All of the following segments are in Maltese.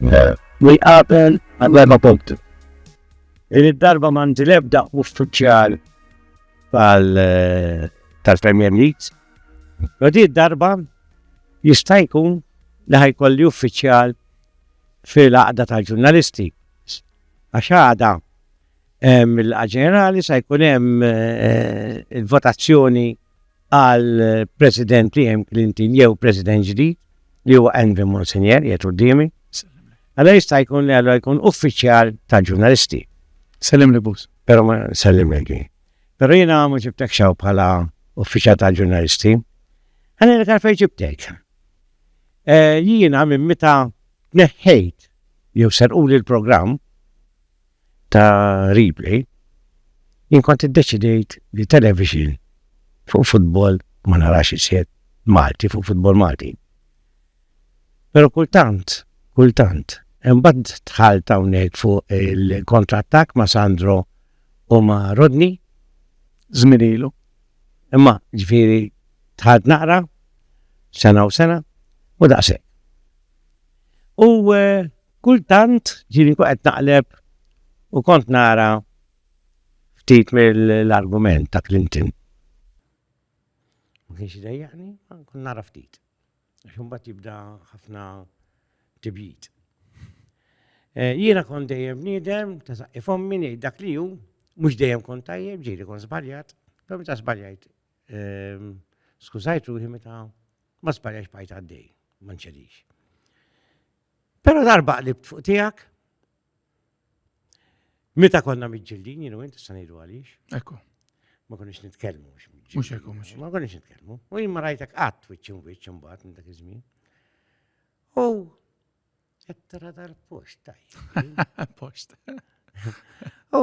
li jqabel għal-erba' punti. Din id-darba m'għandi l-ebda uffiċjal eh, tal-Premier League. Ma din id-darba jista' jkun li ħajkolli uffiċjal fil-għaqda tal-ġurnalisti. Għax għada mill-ġenerali sa jkun hemm eh, il-votazzjoni għal President Liam Clinton jew President ġdid li huwa Envy Monsignor jgħid qudiemi. Għalla jista' jkun li għallu jkun uffiċjal ta' ġurnalisti. Sellim li bus. Pero ma sellim li. Pero jina ma ġibtek xaw bħala uffiċjal ta' ġurnalisti. Għanna li karfej ġibtek. E, jina minn meta neħħejt jew serquli l-programm ta' replay, jien kont iddeċidejt li television fuq futbol ma narax iżjed, Malti fuq futbol Malti. Pero kultant, kultant, imbagħad dħalt hawnhekk fuq il-kontrattak ma' Sandro u ma' Rodney, żminilu, imma ġifieri dħalt naqra sena u sena u daqshekk. U eh, Kultant ġieli nkun qed naqleb u kont nara ftit mill-argument ta' Clinton. Ma kienx idejjaqni, ma kont nara ftit. Għax imbagħad jibda ħafna tibjid. Eh, jiena kont dejjem bniedem, ta' saqqi fommi ngħid dak li hu, mhux dejjem kont tajjeb, ġieli kont żbaljat, però meta żbaljajt ehm, skużajt ruħi meta ma żbaljajx bajt għaddej, ma nċedix. Pero darba qlibt fuq tijak, meta konna mġillin, jenu inti sanidu għalix. Ekku. Ma konniex nitkelmu. Mux ekku, mux. Ma konniex nitkelmu. U jimma rajtek għat, wiċċin wiċċin bat, minn dak iż-żmien. U għettara dal-post, taj. Post. U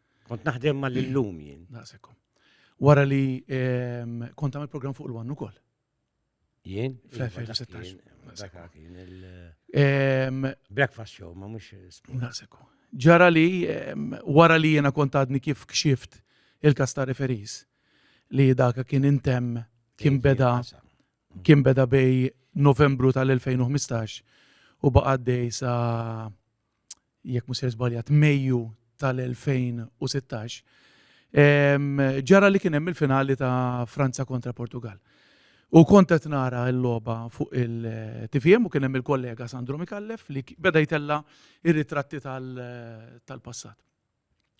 Kont naħdem ma l-lum jien. Naqsekom. Wara li ehm, kont għamil program fuq l-għannu kol. Jien? Iva, ehm, Breakfast show, ma mux. Naqsekom. Ġara li, ehm, wara li jena kont għadni kif kxift il-kasta referis li daka kien intem kien beda kien beda bej novembru tal-2015 u baqaddej sa jekk mhux se żbaljat, Mejju tal-2016, ġara li kien hemm il-finali ta' Franza kontra Portugal. U kont qed nara l-logħba fuq il-TVM u kien hemm il-kollega Sandro Mikallef li beda jtella' r-ritratti tal-passat.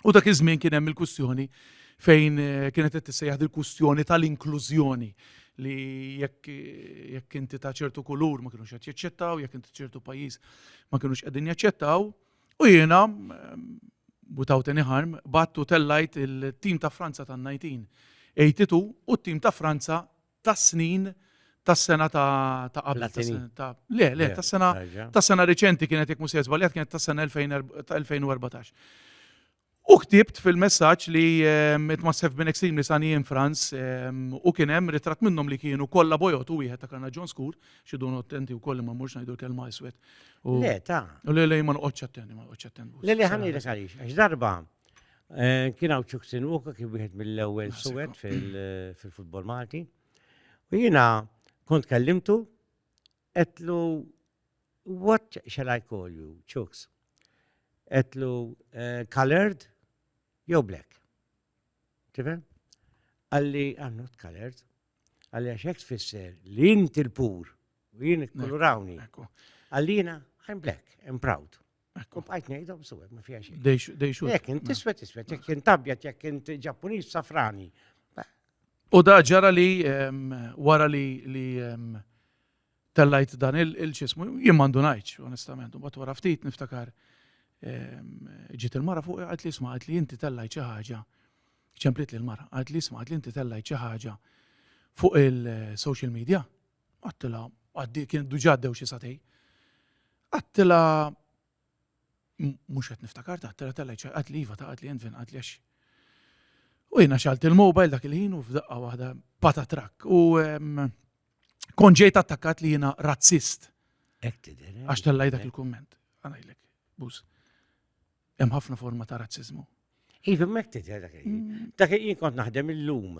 U dak iż-żmien kien hemm il-kwistjoni fejn eh, kienet qed tissejjaħ il-kwistjoni tal-inklużjoni li jekk jekk inti ta' ċertu kulur ma kienux qed jaċċettaw, jekk inti ċertu pajjiż ma kienux qegħdin jaċċettaw, u jiena eh, without any harm battu tellajt il-tim ta' Franza tan-1982 u t-tim ta' Franza tas-snin tas-sena ta' ta' qabel. ta' sena- ta' le, le, tas-sena Ħarġa. tas-sena reċenti kienet jekk mhux se żbaljat kienet tas-sena 2000 ta' 2014. U ktibt fil-messaġġ li ehm, it must have been extremely sunny in France ehm, u kien hemm ritratt minnhom li kienu kollha bojot u wieħed ta' kanna John Skur, xi dun attenti wkoll li ma mmurx ngħidu l-kelma iswed. U Le, ta'. u le le ma noqgħodx attenti, ma noqgħodx attenti. Le, le, ħanejlek għaliex. Għax darba Eh, kien hawn Ċuksin Uka kien wieħed mill-ewwel suwed fil-futbol Malti. U jiena kont kellimtu qedlu what shall I call you, Chuks? Qedlu eh, colored jew black. Tifhem? Għalli I'm not colored. Għalli għax hekk tfisser li inti l-pur u jien ikkulrawni. Għallina I'm black, I'm proud. U bqajt ngħidhom suwed ma fiha xejn. Dejxu. Jekk int iswed iswed, jekk int abjad, jekk int Ġappuniż safrani. U da ġara li wara li li tellajt dan il-ċismu, jien mandu ngħidx, onestament, u bat wara ftit niftakar ġiet il-mara fuq għad li sma li inti tellajt xi ħaġa. Ċemplit li l-mara, għad li sma li inti tellajt xi ħaġa fuq il-social media. Għattilha, għaddi kien duġa għaddew xi satej. Għattilha mhux qed niftakar taħtela tella ċaqat li iva taqat li jenfin qat li għax. U jiena xalt il-mobile dak il-ħin u f'daqqa waħda pata trak. U kon ġejt attakkat li jiena razzist. Eh? Għax tellaj dak il-komment. Għanajlek, bus. Hemm ħafna forma ta' razzizmu. Iva, mek tidher dak il-jien. Mm. Dak il-jien kont naħdem il-lum.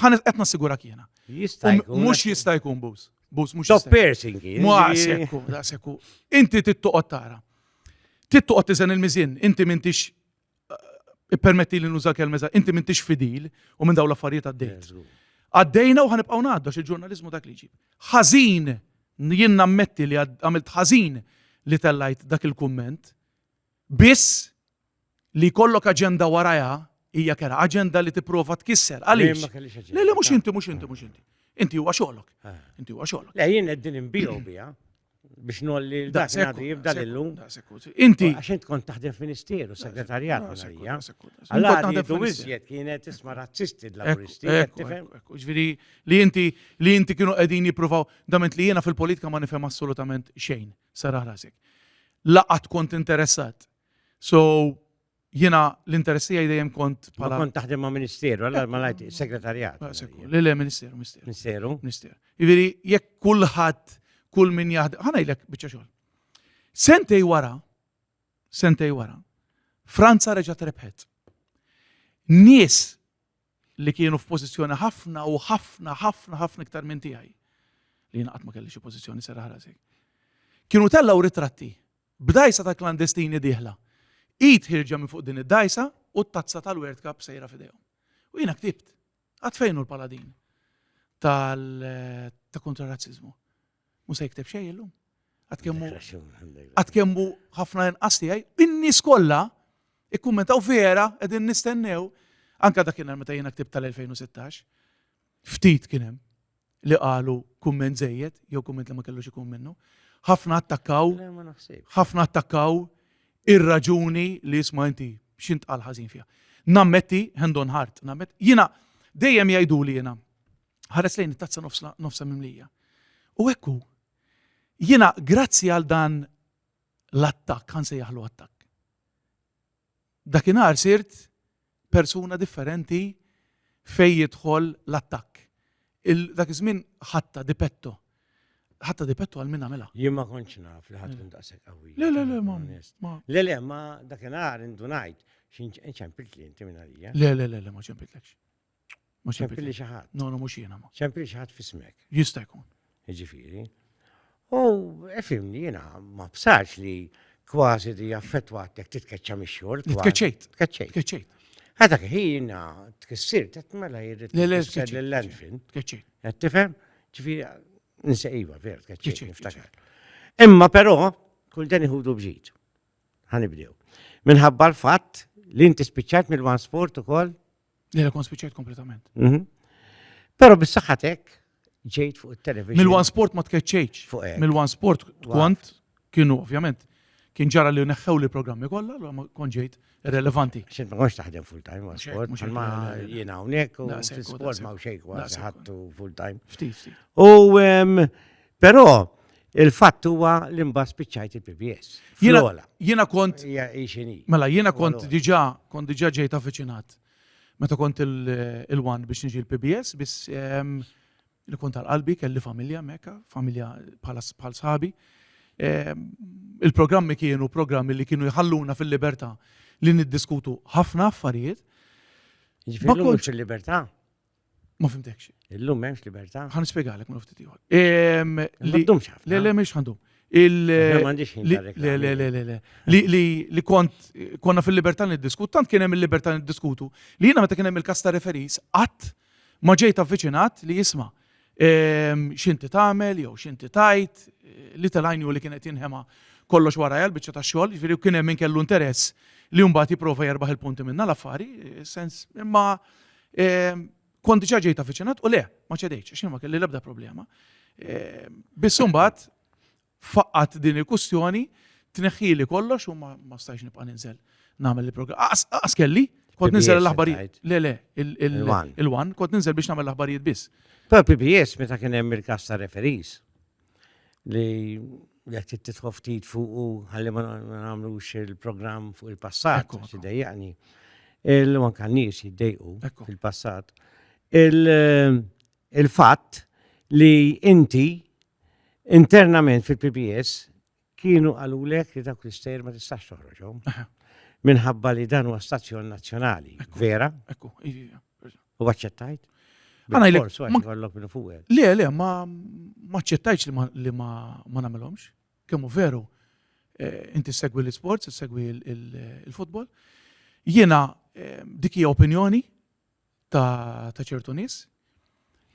Ħanet qed nassigurak jiena. Jista' jkun. Mhux jista' jkun bus. Bus mhux. Top piercing. Muqasekku, daqsekku. Inti tittoqgħod tara. Tittoqgħod tiżen il-miżin, inti m'intix eh, ippermetti li nuża kelmeza, inti m'intix fidil u minn dawn l-affarijiet għaddejt. Għaddejna u ħanibqgħu ngħaddu il-ġurnaliżmu dak li ġib. Ħażin, jien nammetti li għamilt ħażin li tellajt dak il-kumment, biss Li jkollok aġenda warajha hija kera, aġenda li tipprova tkisser. Għaliex? Le, le, mhux inti, mhux inti, mhux inti. Inti huwa xogħlok. Eh. Inti huwa xogħlok. Le, jien qegħdin inbiju biha biex nolli dak nagħti jibda lillum. Inti. Għax int kont taħdem ministeru, segretarjat għalija. Allora għadu iżjed kienet isma razzisti l-laburisti. Ġviri, li inti li inti kienu qegħdin jippruvaw dament li jiena fil-politika ma nifhem assolutament xejn, sara rasek. Laqat kont interessat So, jena l-interess tiegħi dejjem kont Ma bħala. kont taħdem ma' ministeru, għalla ma lajt segretarjat. Ah, sekku, Le, le, ministeru, ministeru. Ministeru. Minister. Iviri, jekk kulħadd, kull min jaħdem, ħanajlek bieċa xogħol. Sentej wara, sentej wara, Franza reġgħet rebħet. Nies li kienu f'pożizzjoni ħafna u ħafna, ħafna, ħafna iktar minn tiegħi li jinqat ma kelli xi pożizzjoni serra ħrasek. Kienu tellaw ritratti B'dgħajsa ta' klandestini dieħla. Id ħierġa minn fuq din id-dgħajsa u t-tazza tal-World Cup sejra f'idejhom. U jiena ktibt, Għad fejn hu l-paladin ta' kontra razzizmu? Mu se jikteb xejn illum. Għad kemmu għad kemmu ħafna inqas tiegħi, in-nies kollha ikkummentaw vera qegħdin nistennew anka dakinhar meta jiena ktibt tal-2016. Ftit kien hemm. li qalu kumment żejjed jew kumment li ma kellux ikun minnu. Ħafna attakkaw, ħafna attakkaw ir-raġuni li jisma' inti x'int qal ħażin fiha. Nammetti, hand on heart, nammet, jiena dejjem jgħidu li jiena ħares lejn it-tazza nofsa mimlija. U ekku, jiena grazzi għal dan l-attak, għan sejjaħlu attak. Dakinhar sirt persuna differenti fejn jidħol l-attakk. Il dak iż-żmien ħadtha di petto. Ħadtha di petto għal min għamilha. Jien ma kontx naf li ħa tkun daqshekk qawwija. Le, le, le, ma. Le, le, ma dakinhar indunajt xi nċempiltli inti minn għalija. Le, le, le, le, ma ċempitlekx. Mhux Ċempli li xi ħadd. No, no, mhux jiena ma. Ċempli xi ħadd fismek. Jista' jkun. Jiġifieri. U efimni jiena ma bsax li kważi di affettwatek titkeċċa mix-xogħol. Tkeċċejt. Tkeċċejt. Tkeċċejt. Għadha ħina tkissir qed mela jirrid l-lenfin. Tkeċċejt. Qed tifhem? Ġifieri nsejba ver tkeċċejt niftakar. Imma però kull dan iħudu bġid. Ħanibdew. Minħabba l-fatt li inti spiċċat mill-one sport ukoll Li la kon spiċċajt kompletament. Mhm. Pero bis-saħħatek ġejt fuq il-television. Mil-One Sport ma tkeċċejċ. Fuq hekk. Mil-One Sport kont kienu ovvjament kien ġara li neħħew li programmi kollha, allura ma kon ġejt relevanti. Xint ma konx taħdem full time, One Mhux hekk, Sport, mhux hekk, ma le, le, le. jiena hawnhekk u Daqshekk, u fil-sport daqshekk. ma xejn kważi Daqshekk. ħattu full time. Ftit, ftit. U em, Però il-fatt huwa li mbagħad spiċċajt il-PBS. Jiena kont. Mela, jiena kont diġà kont diġà ġejt avviċinat meta kont il-wan biex niġi l-PBS, biss ehm, li kont għal-qalbi kelli familja mekka, familja bħal sħabi. Ehm, il-programmi kienu programmi li kienu jħalluna fil-libertà li niddiskutu ħafna affarijiet. Ġifieri fil-libertà? Ma fimtekx. Illum m'hemmx libertà. Ħan nispjegalek ma ftit ieħor. Ħaddum xaf. Le le mhix ħandum. Li kont konna fil-libertà niddiskutu, tant kien hemm il-libertà niddiskutu li jiena meta kien hemm il-kas ta' referis qatt ma ġejt avviċinat li jisma' x'inti tagħmel jew x'inti tajt li telajni u li kienet jinħema kollox warajja l-biċċa ta' xogħol, jiġifieri kien hemm min kellu interess li mbagħad jipprova jerbaħ il-punti minna l-affari, sens imma Ehm, kont diġà ġejt avviċinat u le, ma ċedejtx, għax ma kelli l-ebda problema. Ehm, biss imbagħad faqqat din il-kustjoni, tneħħili kollox u ma stajx nibqa' ninżel nagħmel il-programm. Aqas kelli, kont ninżel l-aħbarijiet. Le, le, il-wan, kont ninżel biex nagħmel l-aħbarijiet biss. Però PBS meta kien hemm il-kas ta' referis. li jekk trid tidħol ftit fuqu ħalli ma nagħmlux il-programm fuq il-passat, Ekku, ekku. dejjaqni. Il-manka nies jiddejqu Ekku. fil-passat. Il- Il-fatt li inti internament fil-PPS Kienu qalulek li dawk l-istejjer ma tistax toħroġhom. Minħabba li dan huwa stazzjon nazzjonali. Vera? Ekku, ivija. U aċċettajt? Għana jlek. Għallok minn fuq. Le, le, ma aċċettajx li ma namilomx. Kemmu veru, eh, inti segwi l-sports, segwi l-futbol. Jena eh, dikija opinjoni ta' ċertu nies.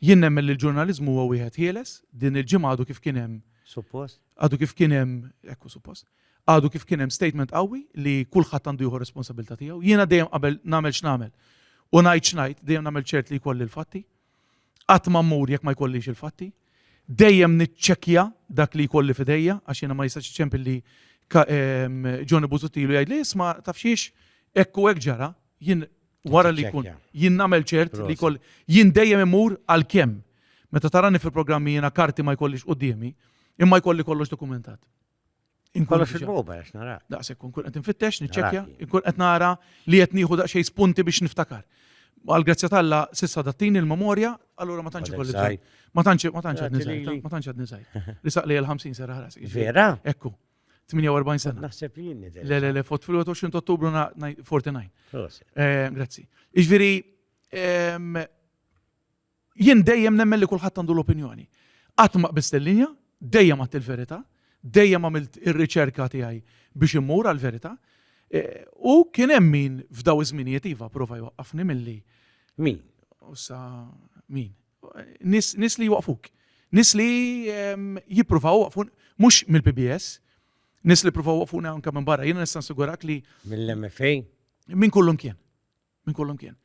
Jien nemmen li l-ġurnaliżmu huwa wieħed ħieles, din il-ġimgħa għadu kif kien hemm. Suppost. Għadu kif kien hemm, ekku suppost. Għadu kif kien hemm statement qawwi li kulħadd għandu jieħu responsabilità tiegħu. Jiena dejjem qabel nagħmel x'nagħmel. U ngħid x'ngħid, dejjem nagħmel ċert li jkolli l-fatti. Qatt ma mmur jekk ma jkollix il-fatti. Dejjem niċċekkja dak li jkolli fidejja għax jiena ma jistax ċempilli Johnny Buzuttilu jgħid li isma' tafxiex ekku hekk ġara, Jien wara li jkun jien nagħmel ċert li jkoll jien dejjem imur għal kemm. Meta tarani fil-programmi jiena karti ma jkollix quddiemi, imma jkolli kollox dokumentat. Inkun fil-boba għax nara. Daqshekk kun qed infittex, niċċekkja, inkun qed nara li qed nieħu daqsxejn spunti biex niftakar. Għal grazzja talla sissa dattini l-memorja, allura ma tantx ikolli Ma tantx ma tantx qed niżgħid, ma tantx qed niżgħid. Li saqli l-50 sera ħras. Vera? Ekku. 48 sena. Naħseb li jinni. Le, le, le, fot fil-21 ottubru 49. Eh, grazzi. Iġviri, ehm, jien dejjem nemmen li kullħat għandu l-opinjoni. Qatt ma qbist il-linja, dejjem għat il-verità, dejjem għamilt ir-riċerka tiegħi biex immur għal-verità. Eh, u kien hemm min f'daw iż-żminijiet iva prova jwaqqafni milli. Min? Ussa min? Nies nies li jwaqqfuk. Nies li jippruvaw iwaqqfun mhux mill-PBS, nies li jippruvaw iwaqqfuna anke minn barra. Jiena nista' nassigurak li. Mill-MFA? Minn kullu mkien. Minn kullu mkien.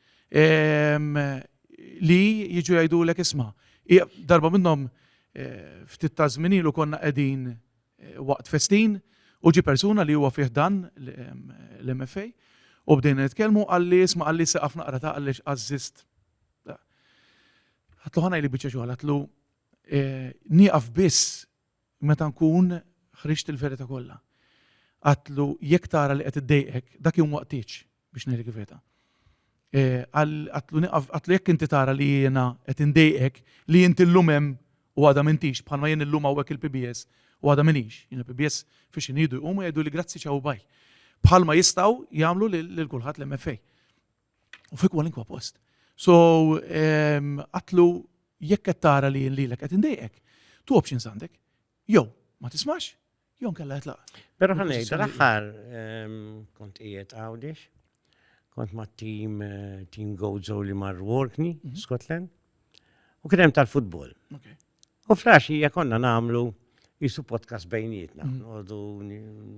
Li jiġu jgħidulek isma'. Darba minnhom ftit ta' żmien ilu konna qegħdin waqt festin u ġie persuna li huwa fih dan l-MFA u bdejna nitkellmu qalli isma' qalli sieqaf naqra ta' għaliex għażżiżt Għatlu ħana li bieċa xogħol, għatlu eh, nieqaf biss meta nkun ħriġt il-verita kollha. Għatlu jekk tara li qed iddejqek, dak jum waqtiċ biex ngħidlek il-verita. Eh, għatlu nieqaf, għatlu jekk inti tara li jiena qed indejqek li inti llum hemm u għada mintix bħalma jien illum hawnhekk il-PBS u għada minix. Jien il-PBS fiex inidu jqumu jgħidu li grazzi ċaw baj. Bħalma jistgħu jagħmlu lil kulħadd l-MFA. U fi kwalinkwa post. So, ehm, għatlu jekk qed tara li lilek qed indejqek, tu options għandek. Jew ma tismax, jew nkella jitlaq. Però ħanej, dal-aħħar ehm, kont qiegħed għawdix, kont ma' team eh, team Gozo li mar Workney, mhm. Scotland, u kien hemm tal-futbol. U flaxija konna namlu jisu podcast bejnietna, mm. għodu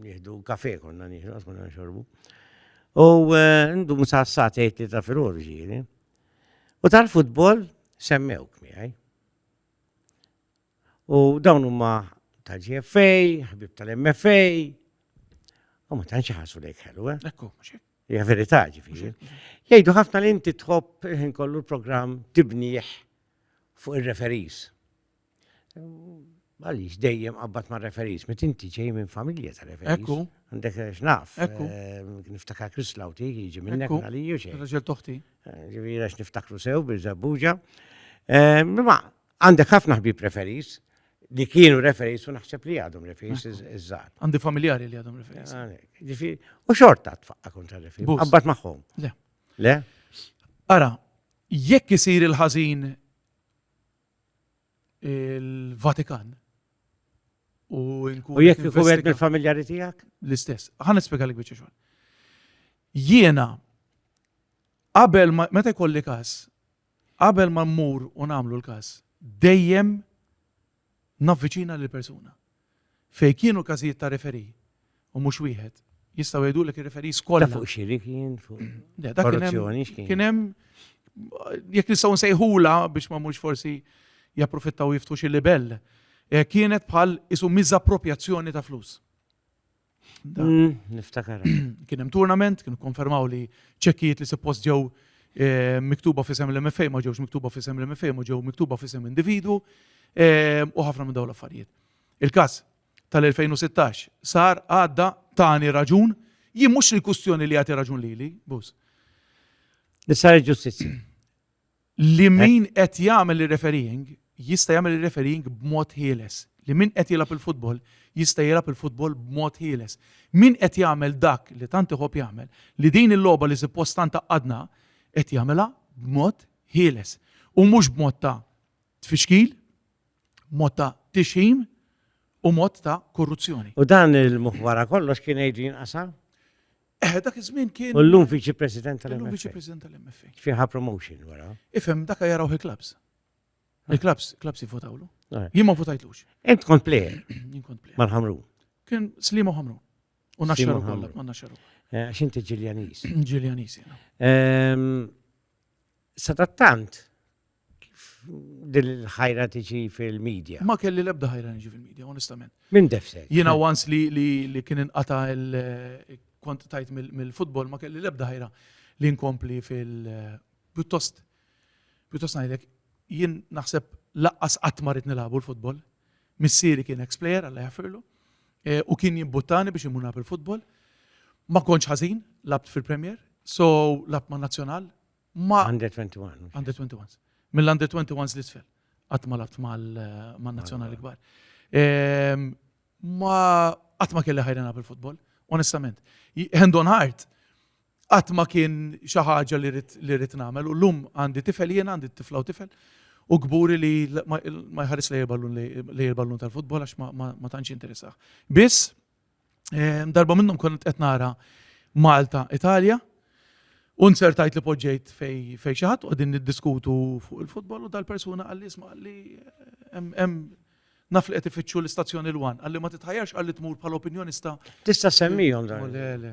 nieħdu kafe konna nieħdu, konna nxorbu. U eh, ndu musa s-satejt li ta' fil-ħor ġiri. U tal-futbol semmewk miħaj. U dawn huma ta' GFA, ħbib tal-MFA, u ma tanċi ħasu lejk ħelu, eh? Ekku, mxie. Ja verità ġifiri. Jgħidu ħafna li inti tħobb kollu l-programm tibniħ fuq ir-referees. Għaliex dejjem qabbat ma' referees, mit inti ġej minn familja ta' referees. Ekku. Għandek x'naf. Ekku. Niftakar Chris Lauti jiġi minn hekk għaliju xejn. Raġel toħti. Ġifieri għax niftakru sew bil żabbuġa. Ma għandek ħafna ħbieb referees li kienu referees u naħseb li għadhom referees iż-żgħar. Għandi familjari li għadhom referees. Ġifieri, u xorta tfaqqa kontra referees. Qabbat magħhom. Le. Le? Ara, Jekk isir il-ħażin il-Vatikan u nkun. U jekk ikun qed mill-familjari tiegħek? L-istess. Ħa nispjegalek biċċa xogħol. Jiena qabel meta jkolli każ, qabel ma mmur u nagħmlu l-każ, dejjem navviċina lill-persuna. Fejn kienu każijiet ta' referee, u mhux wieħed, jistgħu jgħidulek ir-referees kollha. Ta' fuq xiri kien? Le, dak kien hemm. Kien hemm, jekk nistgħu nsejħulha biex ma mmurx forsi japprofittaw jiftħu xi libell, kienet bħal qisu miżapproprjazzjoni ta' flus. Mm, niftakar. Kien hemm turnament, kienu konfermaw li ċekkijiet li suppost ġew eh, miktuba fisem l-MFA ma ġewx miktuba fisem l-MFA ma ġew miktuba fisem individu eh, u ħafna minn dawn l-affarijiet. Il-każ tal-2016 sar għadda tani raġun jien mhux il-kustjoni li jagħti raġun lili, bus. Nisar ġustizzja. Li min qed jagħmel ir-refereeing jista' jagħmel ir-refereeing b'mod ħieles. Li min qed jilgħab il-futbol jista' jilgħab il-futbol b'mod ħieles. Min qed jagħmel dak li tant iħobb jagħmel, li din il-logħba li suppost tant tgħaqqadna, qed jagħmilha b'mod ħieles. U mhux b'mod ta' tfixkil, mod ta' tixħim u mod ta' korruzzjoni. U dan il-muħwara kollox kien jgħid jinqasam? Eh, dak iż-żmien kien. U llum viċi president tal-MFA. Llum viċi president tal-MFA. Fiha promotion wara. Ifhem dak jaraw il-klabs. Ah. Il-klabs, klabs jivvotawlu. Ah. Jien ma votajtlux. Ent kont plejer. Jien kont plejer. Mal-ħamru. Kien Slimu ħamru. U naxxaru kollha, ma naxxaru. Eh, għax inti Ġiljanis. Ġiljanis, Sadattant, Kif din il-ħajra tiġi fil-media? Ma kelli l-ebda ħajra niġi fil-media, onestament. Min defsek? Jiena once li kien inqata kont tajt mill-futbol ma kelli l-ebda ħajra li nkompli fil- pjuttost pjuttost ngħidlek jien naħseb laqqas qatt ma rrid nilagħbu l-futbol. Missieri kien ex player alla jaffirlu e, u kien jimbuttani biex imuna bil-futbol. Ma kontx ħażin, labt fil-Premier, so labt ma' Nazzjonal, ma' Under 21. Under 21s. Mill-Under 21s l-isfel. Qatt ma labt mal-nazzjonali kbar. Ehm, ma qatt ma kelli ħajrena bil-futbol, onestament. Hand on heart, qatt ma kien xi ħaġa li rrid nagħmel u llum għandi tifel jien għandi tifla u tifel u kburi li ma jħares li jirballun tal-futbol għax ma tantx interessaħ. Biss Ehm, darba minnhom kont qed nara Malta, Italja, u nsertajt li poġġejt fej fej xi ħadd qegħdin niddiskutu fuq il-futbol u dal-persuna qal li isma' li eh, hemm naf li qed ifittxu l-istazzjoni l-wan, għalli ma titħajjarx għalli tmur bħal opinjonista. Tista' semmihom dan. Le, le.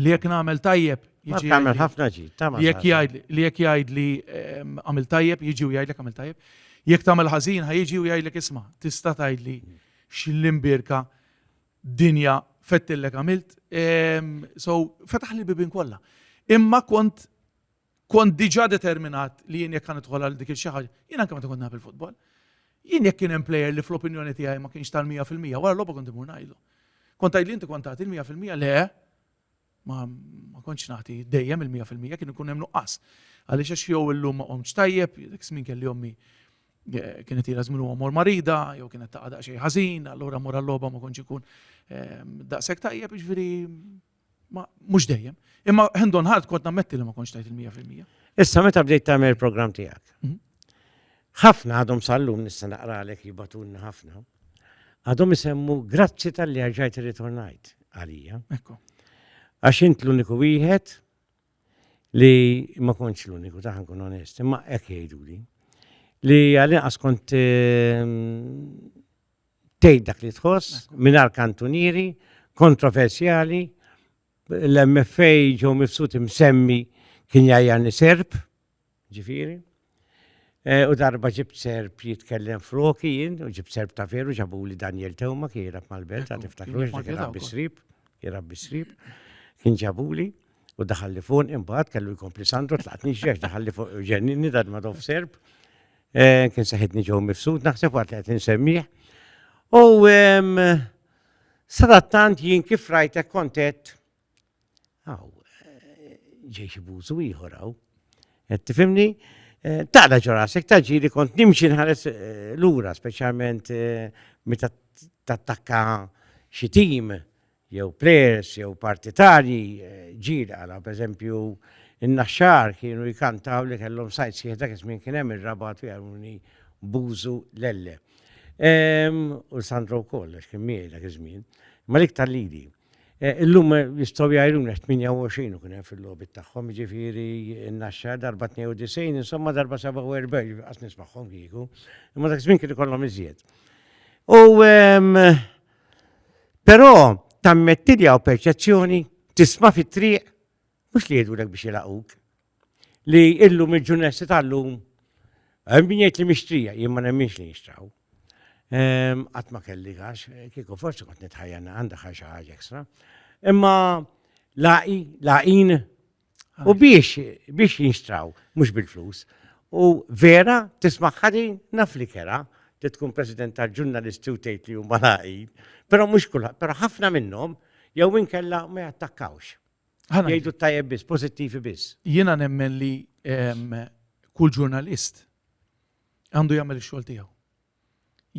li jekk nagħmel tajjeb jiġi. Tagħmel ħafna ġi, tagħmel. Jekk jgħid li jekk jgħid li ehm, għamil tajjeb jiġi u jgħidlek għamil tajjeb. Jekk tagħmel ħażin ħa jiġi u jgħidlek isma' tista' tgħidli x'l-imbirka dinja fettillek għamilt. Ehm, so fetaħ li bibin kollha. Imma kont Kont diġà determinat li jien jekk nidħol għal dik il-xi ħaġa, jien anke meta kont naf il-futbol. Jien jekk kien hemm plejer li fl-opinjoni tiegħi ma kienx tal-mija fil-mija, wara logħba kont imur ngħidlu. Kont tgħid li inti kont tagħti l-mija fil-mija le, ma kontx nagħti dejjem il-mija fil-mija kien ikun hemm nuqqas. Għaliex għax jew illum ma qomx tajjeb, dik smin kelli ommi eh, kienet ila żmien huwa mor marida, jew kienet taqgħa daqsxejn ħażin, allura mor għal-logħba ma kontx ikun ehm, daqshekk tajjeb, jiġifieri Ma mhux dejjem. Imma hand on heart kont nammetti li ma kontx tajt il-mija fil-mija. Issa meta bdejt tagħmel il-programm tiegħek. Mhm. Ħafna għadhom sallum nista' naqralek jibatulni ħafna. Għadhom isemmu grazzi tal-li ħarġajt irritornajt għalija. Ekku. Għax int l-uniku wieħed li ma kontx l-uniku taħan kun onest, imma hekk jgħiduli. Li għalin inqas kont ehm, tgħid dak li tħoss mingħajr kantunieri kontroversjali l-MFA ġew mifsut imsemmi kien jajjani serb, ġifiri. E, u darba ġibt serb jitkellem froki jien, u ġibt serb ta' veru ġabu li Daniel Tewma kien jirab mal-belt, għad iftakru, kien rabbi srib, kien rabbi srib, kien ġabu li, u daħalli fuq, imbagħad kellu jkompli Sandro tlaqt nixġex daħalli fuq ġenninni dad ma serb, Eh, kien saħitni ġew mifsud naħseb waqt li qed insemmih. U sadattant jien kif rajtek kontet għaw eh, ġej xi bużu ieħor hawn. Qed tifhimni? Eh, taqla ġorasek taġiri kont nimxi nħares lura speċjalment meta tattakka xi tim jew plejers jew partitarji ġirja għala pereżempju n-Naxxar kienu jkantaw li kellhom sajd sħiħ dak iż-żmien kien hemm ir-Rabat u jgħallmuni Bużu Lelle. Ehm, u Sandro wkoll għax kien miegħi dak iż-żmien. Ma l-iktar lili. E, illum jistgħu jgħajruna 28 u kien hemm fil-logħbi tagħhom, jiġifieri n-Naxxar darba 92, insomma darba 47 qas nismagħhom kieku, imma dak iż-żmien kien ikollhom iżjed. U ehm, Però tammetti li hawn perċezzjoni tisma' fit-triq mhux li jgħidulek biex jilaquk. Li illum il-ġurnesti tal-lum hemm min jgħid li mixtrija jien ma nemminx li nixtraw. Ehm, qatt ma kelli għax kieku forsi kont nitħajjana għandha ħaġa ħaġa ekstra. Imma laqi, laqin U biex, biex jinxtraw, mux bil-flus. U vera, tisma ħadin, naf li kera, li tkun president tal-ġurnalisti u tgħid li huma laqin, però mhux kulħadd, però ħafna minnhom jew inkella ma jattakkawx. Jgħidu tajjeb biss, pożittivi biss. Jiena nemmen li ehm, kull ġurnalist għandu jagħmel ix-xogħol tiegħu.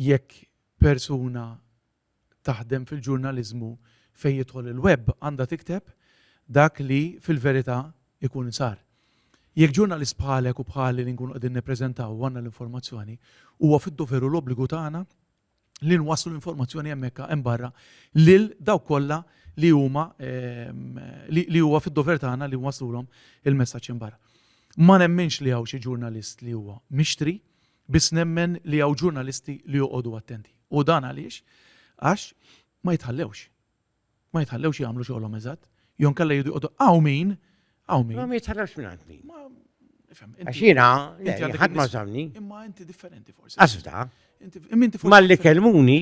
Jekk persuna taħdem fil-ġurnaliżmu fejn jidħol il-web għandha tikteb dak li fil-verità jkun sar. Jekk ġurnalist bħalek u bħali li nkunu qegħdin nippreżentaw u għandna l-informazzjoni, huwa fid-dover u l-obbligu tagħna li nwasslu l-informazzjoni hemmhekk hemm barra lil dawk kollha li huma ehm, li huwa fid-dover tagħna li nwaslulhom il-messaġġ barra. Ma nemminx li hawn xi ġurnalist li huwa mixtri, Biss nemmen li hawn ġurnalisti li joqogħdu attenti. U dan għaliex? Għax ma jitħallewx. Ma jitħallewx jagħmlu xogħolhom eżatt. Jon kalla jidu joqogħdu hawn min, hawn min. Ma jitħallewx minn għandni. Għax jiena, ħadd ma żamni. Imma inti differenti forsi. Asfta. Ma li kelmuni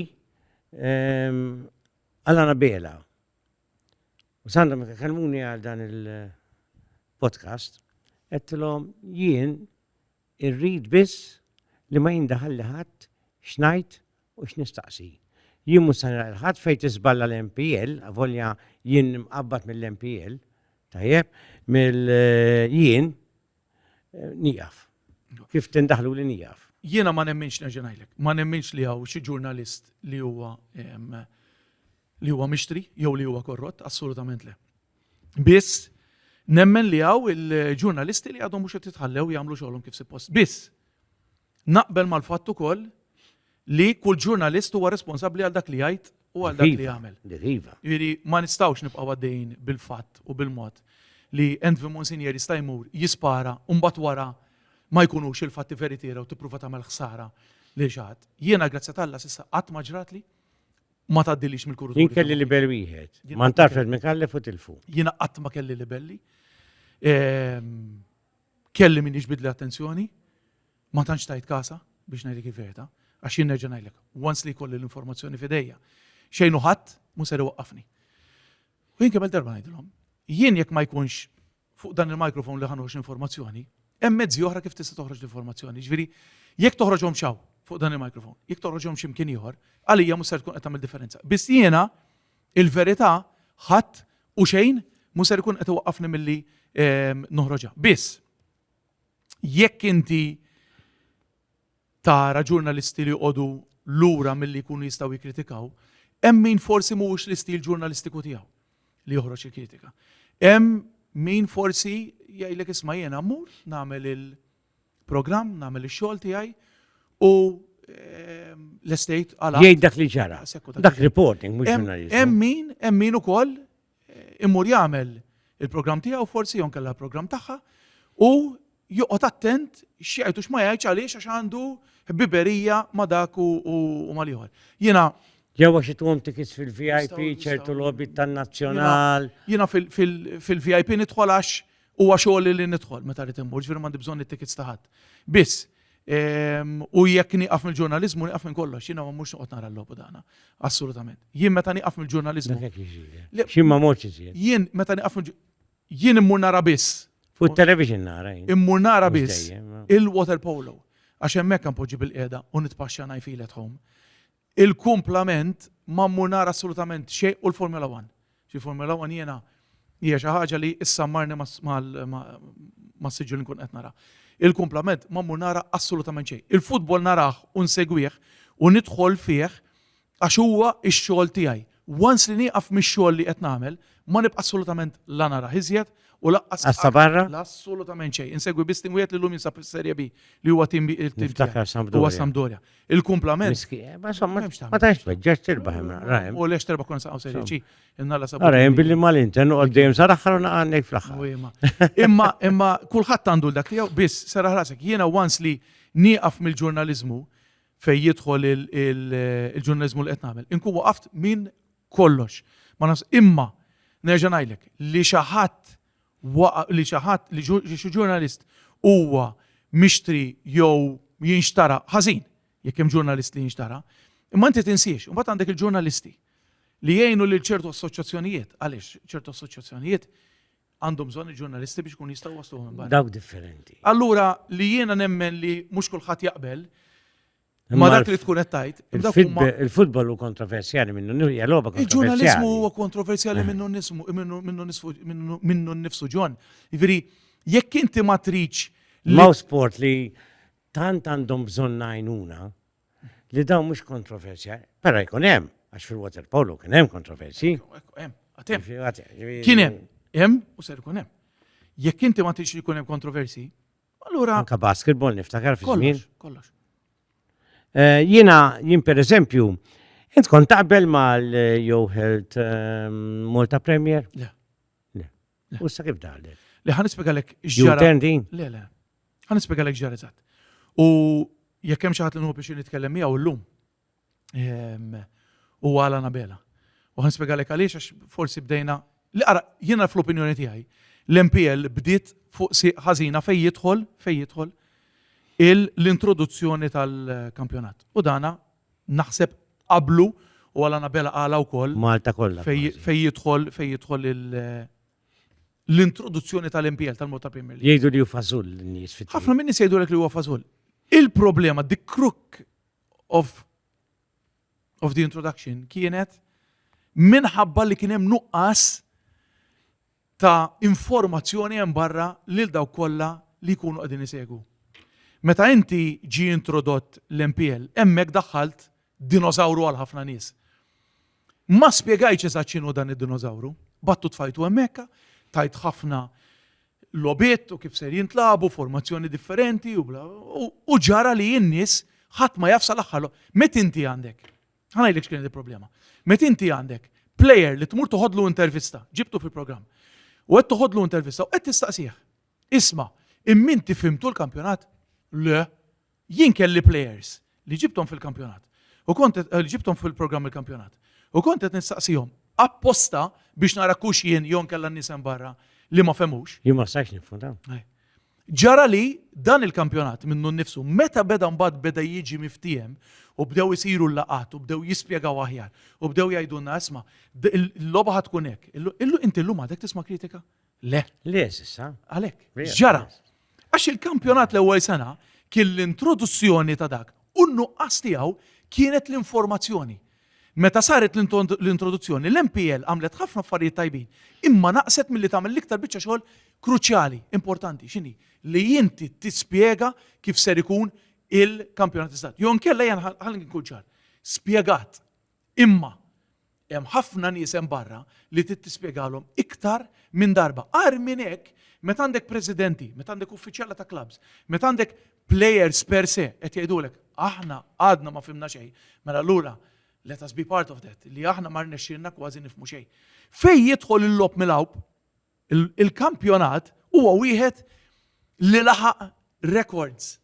ehm, għal bela. U sanda ma kelmuni għal dan il-podcast, għettilom jien Irrid biss li ma jindaħalli ħadd x'ngħid u x'nistaqsi. Jien mhux se nara lil ħadd fejn tiżballa l-MPL, avolja jien imqabbad mill-MPL, tajjeb, mill, jien nieqaf. Kif tindaħluli nieqaf. Jiena ma nemminx, nerġa' ngħidlek, ma nemminx li hawn xi ġurnalist li huwa li huwa mixtri jew li huwa korrott, assolutament le. Biss, nemmen li għaw il-ġurnalisti li għadhom mhux qed jitħallew jagħmlu xogħolhom kif suppost. Biss, naqbel mal-fatt ukoll li kull ġurnalist huwa responsabbli għal dak li jgħid u għal dak li jagħmel. Iva. Jiġifieri ma nistgħux nibqgħu għaddejjin bil-fatt u bil-mod li Envi Monsinieri jista' jmur jispara u mbagħad wara ma jkunux il-fatti veritiera u tippruva tagħmel ħsara li xaħat. Jiena grazzi tal-Alla s'issa qatt ma ġratli Ma tgħaddilix mill-kuruturi. Jien kelli libell wieħed. Ma ntarfet minn kallef u tilfu. Jiena qatt ma kelli libelli. Ehm, kelli min jiġbidli attenzjoni, ma tantx tajt kasa biex ngħidlek il-verità, għax jien nerġa' ngħidlek, once li jkolli l-informazzjoni f'idejja, xejn u ħadd mhu ser iwaqqafni. U jien kemm darba ngħidilhom, jien jekk ma jkunx fuq dan il-microphone li ħanoħroġ l-informazzjoni, hemm mezzi oħra kif tista' toħroġ l-informazzjoni. Ġifieri, jekk toħroġhom xaw fuq dan il-microphone, jekk toħroġhom x'imkien ieħor, għalija mhux ser tkun qed tagħmel differenza. Biss jiena il-verità ħadd u xejn mhux ser ikun qed iwaqqafni milli ehm, noħroġha. Biss jekk inti tara ġurnalisti li joqogħdu lura milli jkunu jistgħu jikkritikaw, hemm min forsi mhuwiex l-istil ġurnalistiku tiegħu li joħroġ il-kritika. Hemm min forsi jgħidlek isma' jiena mmur nagħmel il-programm, nagħmel ix-xogħol tiegħi u ehm, l-estate għal. Jgħid dak li ġara. Dak reporting mhux ġurnalist. Hemm min, hemm min ukoll imur jagħmel il-programm tiegħu forsi jew kellha l-programm tagħha u joqgħod attent x'jgħid u x'ma jgħidx għaliex għax għandu ħbiberija ma' dak u mal-ieħor. Jiena Jew għax itwom tikis fil-VIP ċertu lobby tan-nazzjonal. Jiena fil-VIP nidħol għax Huwa xogħol li nidħol meta rrid immur, ġifieri m'għandi bżonn it-tickets ta' ħadd. Biss, ehm, u jekk nieqaf mill-ġurnaliżmu nieqaf minn kollox, jiena ma mhux noqgħod nara l-logħbu dana. Assolutament. Jien meta nieqaf mill-ġurnaliżmu. Xi ma morx iżjed. Jien meta nieqaf jien immur nara biss. Fuq television nara. Immur nara biss il-water polo. Għax hemmhekk poġġi bil-qiegħda u nitpaxxa ngħid fil at home. Il-kumplament ma mmur nara assolutament xejn u l-Formula One. Xi Formula One jiena hija xi ħaġa li issammarni mas-siġġu li nkun qed nara. Il-kumplament ma mmur nara assolutament xejn. Il-futbol narah u nsegwih u nidħol fih għax huwa x-xogħol tiegħi. Once li nieqaf mix-xogħol li qed nagħmel, ma nibqa' assolutament la narah iżjed u laqqas. Għassa barra? Assolutament xejn. Insegwi biss tim wieħed li llum jinsab fis-Serje B li huwa tim Niftakar Sampdoria. Huwa Sampdoria. Il-kumplament. Ma somma ma tantx tweġġax tirbaħ hemm rahem. U lex terba' kon saqgħu Serje C. Innalla sabu. Ara hemm billi mal-Inter noqgħod dejjem sar aħħar u naqgħandek fl-aħħar. Imma imma kulħadd għandu dak tiegħu biss sera ħrasek. Jiena once li nieqaf mill-ġurnaliżmu, fejn jidħol il-ġurnaliżmu li qed nagħmel. Inkun waqaft minn kollox. Ma nafx imma nerġa' ngħidlek li xi ħadd li xi ħadd li xi ġurnalist huwa mixtri jew jinxtara ħażin jekk hemm ġurnalist li jinxtara, imma inti tinsiex, u mbagħad għandek il-ġurnalisti li jgħinu lil ċertu assoċjazzjonijiet, għaliex ċertu assoċjazzjonijiet għandhom bżonn il-ġurnalisti biex ikun jistgħu wasluhom minn barra. Dawk differenti. Allura li jiena nemmen li mhux kulħadd jaqbel ma dak li tkun qed tgħid. Il-futbol hu kontroversjali minnu logħba Il-ġurnaliżmu huwa kontroversjali minnu nismu minnu nnifsu ġon. Jiġifieri jekk inti ma tridx Law sport li tant għandhom bżonn għajnuna li dawn mhux kontroversja, però jkun hemm, għax fil-water polo kien hemm kontroversi. Kien hemm, hemm u ser ikun hemm. Jekk inti ma tix jkun hemm kontroversi, allura. Anka basketball niftakar fi żmien. Kollox. Eh, jiena jien pereżempju, int kont taqbel mal-Jew Health eh, Malta Premier? Le. U sa kif daħlet? Le, ħan ispiegalek ġara. Tendi? Le, le. Ħan ispiegalek ġara eżatt. U jekk hemm xi ħadd li nħu biex nitkellem miegħu llum. Ehm, u għala nabela. U ħan ispiegalek għaliex għax forsi bdejna li ara jiena fl-opinjoni tiegħi l-MPL bdiet fuq si ħażina fejn jidħol fejn jidħol l-introduzzjoni tal-kampjonat. U dana Naħseb qablu u għal Anabela qalha wkoll. Malta kollha kważi. Fejn jidħol fejn jidħol l-introduzzjoni tal-MPL tal-mod ta' Premier League. Jgħidu li hu fażull in-nies fit Ħafna min-nies jgħidulek li huwa fażull. Il-problema, the crook of of the introduction kienet minħabba li kien hemm nuqqas ta' informazzjoni hemm barra lil dawk kollha li jkunu qegħdin isegwu. Meta inti ġie introdott l-MPL, hemmhekk daħħalt dinosawru għal ħafna nies. Ma spjegajtx eżatt x'inhu dan id-dinosawru. Battu tfajtu hemmhekk, tajt ħafna logħbiet u kif ser jintlagħbu, formazzjoni differenti u bla u ġara li n-nies ħadd ma jaf sal-aħħar. Met inti għandek Ħanajlek x'kienet il-problema. Met inti għandek player li tmur toħodlu intervista, ġibtu fil-programm. U qed toħodlu intervista u qed tistaqsih. Isma, immin tifimtu l-kampjonat? Le, jien kelli players li ġibtom fil-kampjonat. U kont eh, li ġibtom fil-programm il-kampjonat. U kont qed nistaqsihom apposta biex nara kux jien jon kella nisem barra li ma femux. Jien ma sajx nifhmu Ġara li dan il-kampjonat minnu nnifsu meta beda mbagħad beda jiġi miftiehem u bdew isiru l-laqgħat u bdew jispjegaw aħjar u bdew jgħidulna isma' l-logħba ħad tkun hekk. Illu inti llum għadek tisma' kritika? Le. Le s'issa. Għalhekk. Ġara. Għax il-kampjonat l-ewwel sena kien l-introduzzjoni ta' dak u n-nuqqas tiegħu kienet l-informazzjoni. Meta saret l-introduzzjoni, l-MPL għamlet ħafna affarijiet tajbin, imma naqset milli tagħmel l-iktar biċċa xogħol kruċjali, importanti, x'inhi? Li inti tispjega kif ser ikun il-kampjonat iżgħar. Jew inkella jien ħalli nkun ċar. Spjegat. Imma hemm ħafna nies hemm barra li trid tispjegalhom iktar minn darba. Għar minn hekk, meta għandek presidenti, meta għandek uffiċjala ta' clubs, meta għandek Players per se qed jgħidulek aħna għadna ma fimna xejn, mela allura let us be part of that, li aħna ma rnexxielna kważi nifmu xejn. Fejn jidħol il-lob mill-għawb, il-kampjonat huwa wieħed li laħaq records.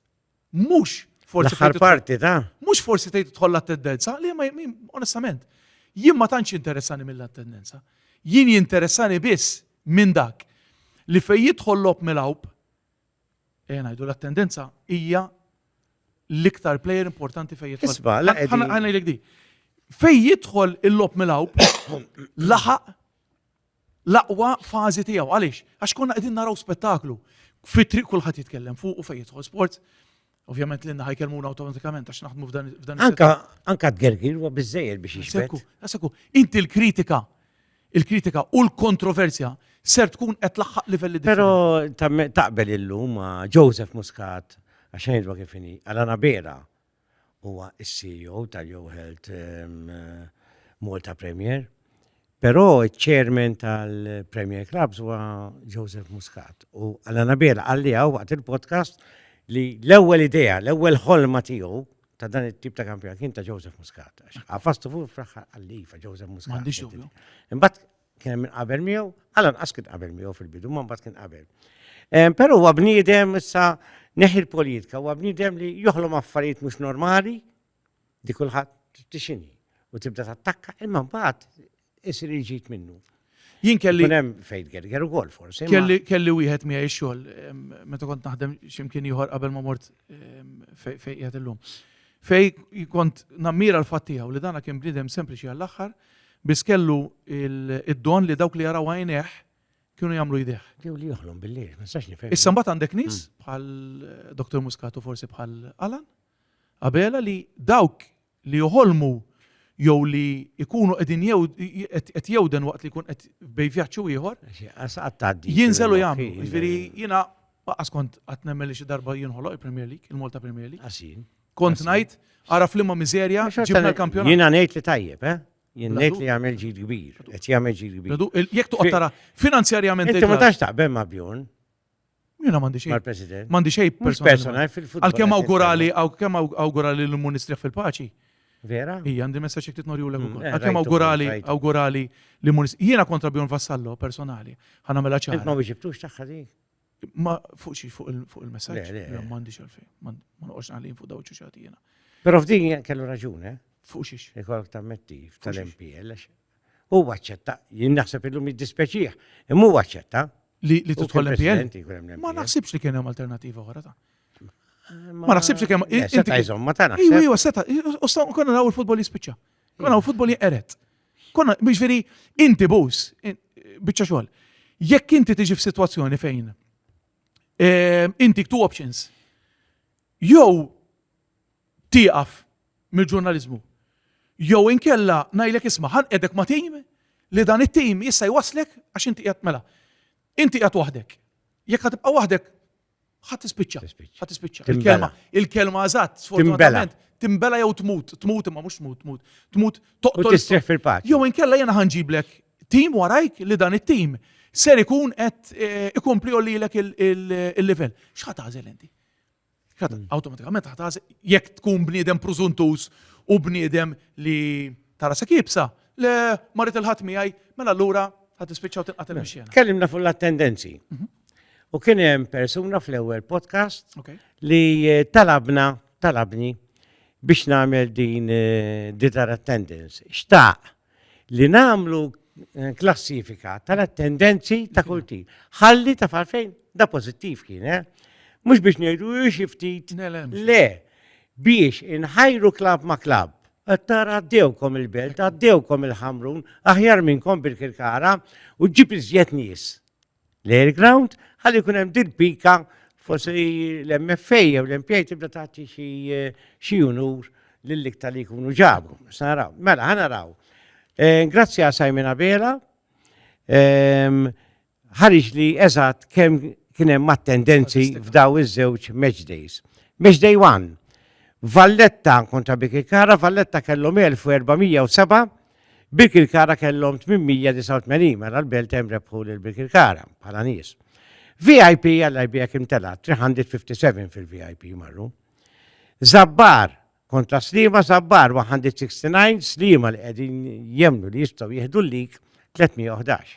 Mhux forsi. L-aħħar parti ta' mhux forsi tgħid tidħol l-attendenza, li ma onestament, jien ma tantx interessani mill-attendenza. Jien jinteressani biss minn dak li fejn jidħol lob mill-awb, Ejja ngħidu l-attendenza hija l-iktar player importanti fejn jidħol. Isma, la qegħdin. Ħa ngħidlek di. Fejn jidħol il-lob mill-awb, laħaq l-aqwa fażi tiegħu. Għaliex? Għax konna qegħdin naraw spettaklu. Fitri kulħadd jitkellem fuq u fejn jidħol sports. Ovvjament l-inna ħajkelmuna automatikament għax naħdmu f'dan f'dan. Anka anka tgergir huwa biżejjed biex jixbek. Għasaku, inti l-kritika, il-kritika u l-kontroversja ser tkun qed laħħaq livelli Però taqbel illum ma' Joseph Muscat għax ngħidwa kif inhi, Alana Bera huwa s-CEO tal-Yo Health ehm, Malta Premier Però ċ-chairman tal-Premier Clubs huwa Joseph Muscat u Alla Nabela qalliha waqt il-podcast li l-ewwel idea, l-ewwel ħolma tiegħu ta' dan it-tip ta' kampjonat kien ta' Joseph Muscat. Għafastu fuq fl-aħħar qallifa Joseph Muscat. M'għandix dubju. Imbagħad kien hemm qabel miegħu, għalan qas kien qabel miegħu fil-bidu, ma mbagħad kien qabel. Però huwa bniedem issa neħi l-politika, huwa bniedem li joħlom affarijiet mhux normali, Di kulħadd trid tixini u tibda tattakka imma mbagħad isir il-ġid minnu. Jien kelli. Kun hemm fejn gerger ukoll forsi. Kelli kelli wieħed miegħi xogħol meta kont naħdem x'imkien ieħor qabel ma mort fejn qiegħed illum. Fej kont nammira l-fatt tiegħu li dana kien bniedem sempliċi għall-aħħar biss kellu id-don li dawk li jaraw għajneh kienu jagħmlu jdeh. Jew li joħlom billi, ma sax nifhem. Issa mbagħad għandek nies hmm. bħal Dr. Muscatu forsi bħal Alan. Abela li dawk li joħolmu jew li jkunu qegħdin qed jewden waqt li jkun qed bej vjaġġ u ieħor. Jinżel u jagħmlu. Jiġifieri jiena qas kont qatt nemmen li xi darba jinħoloq il-Premier League, il-Malta Premier League. Għasin. Kont ngħid ara flimma miżerja ġibna l-kampjonat. Jiena ngħid li tajjeb, eh? Jien ngħid li jagħmel ġid kbir, qed jagħmel ġid kbir. Jekk toqgħod tara finanzjarjament. Inti ma tax taqbel ma' Bjorn. Jiena m'għandi xejn. Mal-President. M'għandi xejn personali. Għalkemm awgurali, għalkemm awgurali li mmur nistrieħ fil-paċi. Vera? Ija, għandi messaċ iktit norju l mm, eh, Għakem awgurali, awgurali li munis. Jiena kontra Bjorn Vassallo, personali. ħana mela ċar. Ma biex ibtux taħħa di? Ma fuq xie, fuq il-messaċ. Ma mandi xalfej. Ma noqox għalin fuq dawċu xati jena. Pero f'din kellu raġun, eh? Fuq xiex. Ikolok ta' mettif tal-MPL. Huwa aċċetta, jien naħseb illum jiddispjaċih, imma huwa aċċetta. Li li tidħol l-MPL? Ma naħsibx li kien hemm alternattiva oħra ta'. Ma naħsibx li kien hemm. Eh, seta' jżomm ma tagħna. Iwa, iwa, seta', u sta' konna naraw il-futbol jispiċċa. Konna naraw il-futbol jinqeret. Konna, biex veri, inti bus, biċċa xogħol. Jekk inti tiġi f'sitwazzjoni fejn eh, inti two options. Jew tieqaf mill-ġurnaliżmu. Jew inkella ngħidlek isma' ħanqegħdek ma' tim li dan it-tim jista' jwasslek għax inti qiegħed mela. Inti qiegħed waħdek. Jekk ħa tibqa' waħdek ħa tispiċċa. Ħa tispiċċa. Il-kelma, il-kelma eżatt, sfortunatament, timbela jew tmut, tmut imma mhux tmut, tmut, tmut toqtol. Tistrieħ fil-paċi. Jew inkella jiena ħanġiblek tim warajk li dan it-tim ser ikun qed eh, ikompli lilek il-livell. X'ħa tażel inti? Hmm. Awtomatikament ħataż jekk tkun bniedem prużuntuż u bniedem li tara se kibsa, le marit il-ħadd miegħi, mela allura ħad tispiċċaw tinqatel mhux mela, Kellimna fuq l-attendenzi. Mhm. U kien hemm persuna fl-ewwel podcast li eh, talabna, talabni biex nagħmel din eh, ditar attendance. Xtaq li nagħmlu eh, klassifika tal-attendenzi ta' kull tip. Ħalli ta' farfejn da pożittiv kien, eh? Mhux biex ngħidu xi ftit. Le, biex inħajru klab ma' klab. Attar għaddewkom il-belt, għaddewkom il-ħamrun, aħjar minnkom bil-kirkara u ġib iżjed nies. l-air ground, ħalli jkun hemm din pika forsi l-MFA jew l-MPA tibda tagħti xi xi unur lill-iktar li jkunu ġabu. Sa naraw. Mela, ħa naraw. Eh, grazzi għal Simon Abela. Ehm, ħarġ li eżatt kemm kien hemm attendenzi f'daw iż-żewġ match days. Match day 1. Valletta kontra Bikikara, Valletta kellhom 1407 Birkirkara kellhom 889 mela l-Belt hemm rebħu lil Birkirkara bħala nies. VIP għalla jbijek imtela 357 fil-VIP marru. Zabbar kontra Slima Zabbar 169 Slima li qegħdin jemnu li jistgħu jieħdu l-lik 311.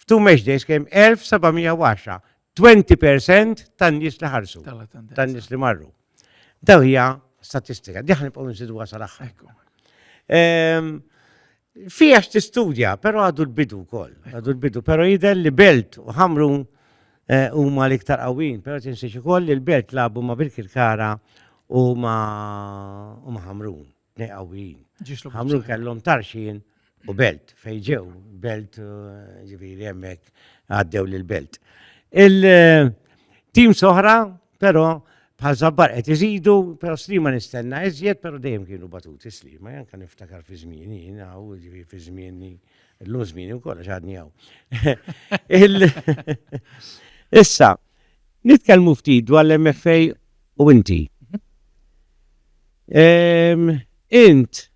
F'tu match days kien 1710, 20% tan-nies li ħarsu, tan-nies li marru. Daw hija statistika, diħan nibqgħu nżidu għasal aħħar. Ehm, Fija x'tistudja, però għadu l-bidu wkoll, għadu l-bidu, però jidher li belt u ħamru eh, huma l-iktar qawwin, però tinsiex ukoll li l-belt labu ma' Birkirkara u ma' ħamrun. tnej qawwijin. Ħamrun kellhom tarxin u belt fejn ġew, belt eh, ġifieri hemmhekk għaddew lil belt. Il-tim eh, soħra, però bħal zabbar qed iżidu, però slima nistenna iżjed, però dejjem kienu batuti slima, janka niftakar fi żmieni, jiena u ġifi fi żmieni, l-lum żmieni wkoll għax għadni hawn. Issa, nitkellmu ftit dwar l-MFA u inti. Int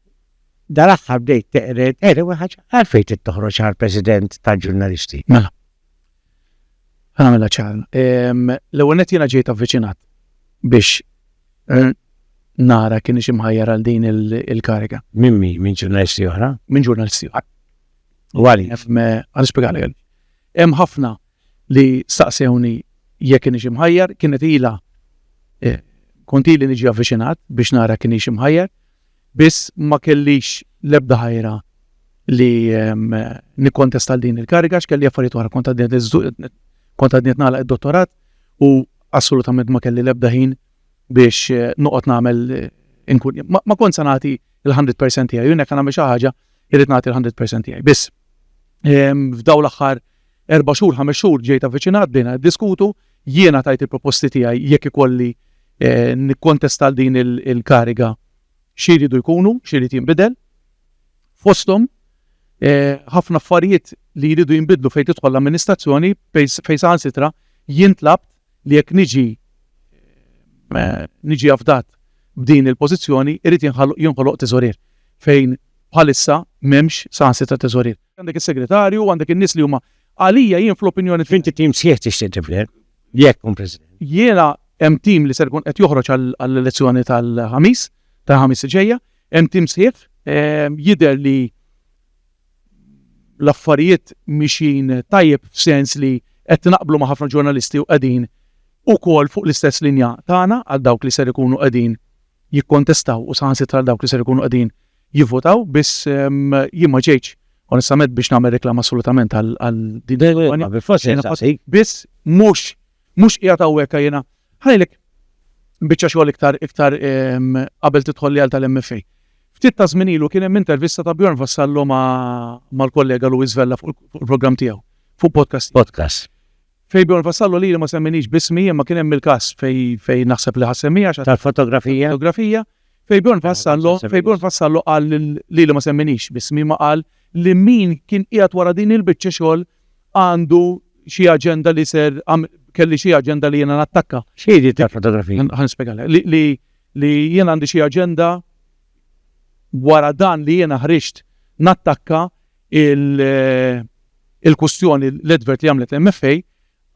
dal-aħħar bdejt teqred, eri wieħed ħaġa, għalfejn trid toħroġ għal President tal-Ġurnalisti? Mela. Għamilha ċar. L-ewwel nett jiena ġejt avviċinat biex eh, nara kien ix imħajjar għal din il-kariga. Minn min? Minn ġurnalisti oħra? Minn ġurnalisti oħra. U għali? Għal spiegali għal. Hemm ħafna li staqsewni jekk kienx imħajjar, kienet ilha kont ili niġi avviċinat biex nara kienx imħajjar, biss ma kellix l-ebda ħajra li nikkontesta għal din il-kariga għax kelli affarijiet oħra kont għadni qed nagħlaq id-dottorat u assolutament ma kelli l-ebda ħin biex eh, noqgħod nagħmel eh, inkun ma kont se nagħti il-100% tiegħi, jien jekk nagħmel xi ħaġa irrid nagħti il-100% tiegħi. Biss f'daw l-aħħar Erba' xhur, ħames xhur ġej ta' viċinat bdejna niddiskutu, jiena tajt il-proposti tiegħi jekk ikolli nikkontesta għal din il-kariga xi jridu jkunu, xi jrid jinbidel. Fosthom ħafna affarijiet li jridu jinbidlu fejn tidħol l-amministrazzjoni fejn saħansitra jien tlabt li jekk niġi niġi afdat b'din il-pożizzjoni jrid jinħoloq teżorier fejn bħalissa m'hemmx saħansitra teżorier. Għandek is-segretarju, għandek in-nies li huma għalija jien fl-opinjoni tiegħi. Inti tim sħiħ tixtieq tibni, jekk kun President. Jiena hemm tim li ser ikun qed joħroġ għall-elezzjoni tal-ħamis, tal-ħamis ġejja, hemm tim sħiħ, ehm, jidher li l-affarijiet mixin tajjeb f'sens li qed naqblu ma' ħafna ġurnalisti u qegħdin ukoll fuq l-istess linja tagħna għal dawk li ser ikunu qegħdin jikkontestaw u saħansitra dawk li ser ikunu qegħdin jivvotaw biss jien ma ġejtx onestament biex nagħmel reklam assolutament għal din il-kampanja. Biss mhux mhux qiegħed hawnhekk jiena ħajlek biċċa xogħol iktar iktar qabel tidħol li għal tal-MFA. Ftit ta' żmien ilu kien hemm intervista ta' Bjorn Vassallo mal-kollega Luis Vella fuq il-programm tiegħu, fuq podcast. Podcast. Fej Bjorn Vassallo lili ma semminix b'ismi imma kien hemm il-każ fej fej naħseb li ħa semmija għax Tal-fotografija? fotografija fej Bjorn Ħa Vassallo fej Bjorn semminix. Vassallo qal lil lili ma semminix b'ismi imma qal li min kien qiegħed wara din il-biċċa xogħol għandu xi aġenda li ser għam- kelli xi aġenda li jiena nattakka. X'hi di tal-fotografija? Ħa nispjegalek. Li li li jien għandi xi aġenda wara dan li jiena ħriġt nattakka il-kwistjoni l-advert li għamlet l-MFA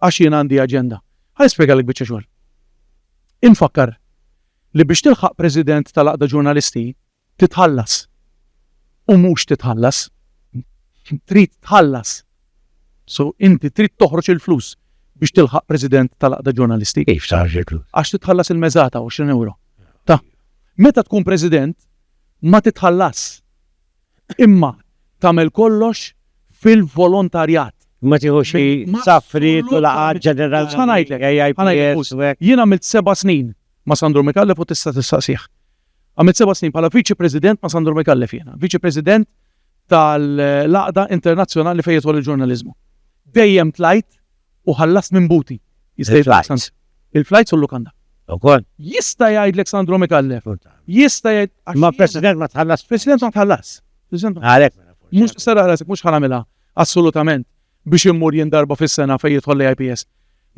għax jien għandi aġenda. Ħa nispjegalek biċċa xogħol. Infakkar li biex tilħaq President tal-Għaqda Ġurnalisti titħallas u mhux titħallas. Trid tħallas. So inti trid toħroġ il-flus biex tilħaq president tal-aqda ġurnalisti. Kif taħġi flus? Għax titħallas il-mezzata 20 euro. Ta' meta tkun president ma titħallas. Imma tagħmel kollox fil-volontarjat. Ma tieħux xi safriet u laqgħat ġenerali. Ħa ngħidlek, ħa ngħidlek. Jien għamilt seba' snin ma' Sandro Micallef u tista' tistaqsih. Għamilt seba' snin bħala Viċi President ma' Sandro Micallef jiena. Viċi President tal-Għaqda Internazzjonali fejn jidħol il-ġurnaliżmu. Dejjem tlajt u ħallast minn buti. Jista' jgħidlek. Il-flajts u l-lukanda. Ukoll. Jista' jgħidlek Sandro Micallef. Jista' jgħid. Imma President ma tħallas. President ma tħallas. Għalhekk. Mhux tisserraħ rasek, mhux ħanamilha assolutament biex immur jien darba fis-sena fejn jidħol l-IPS.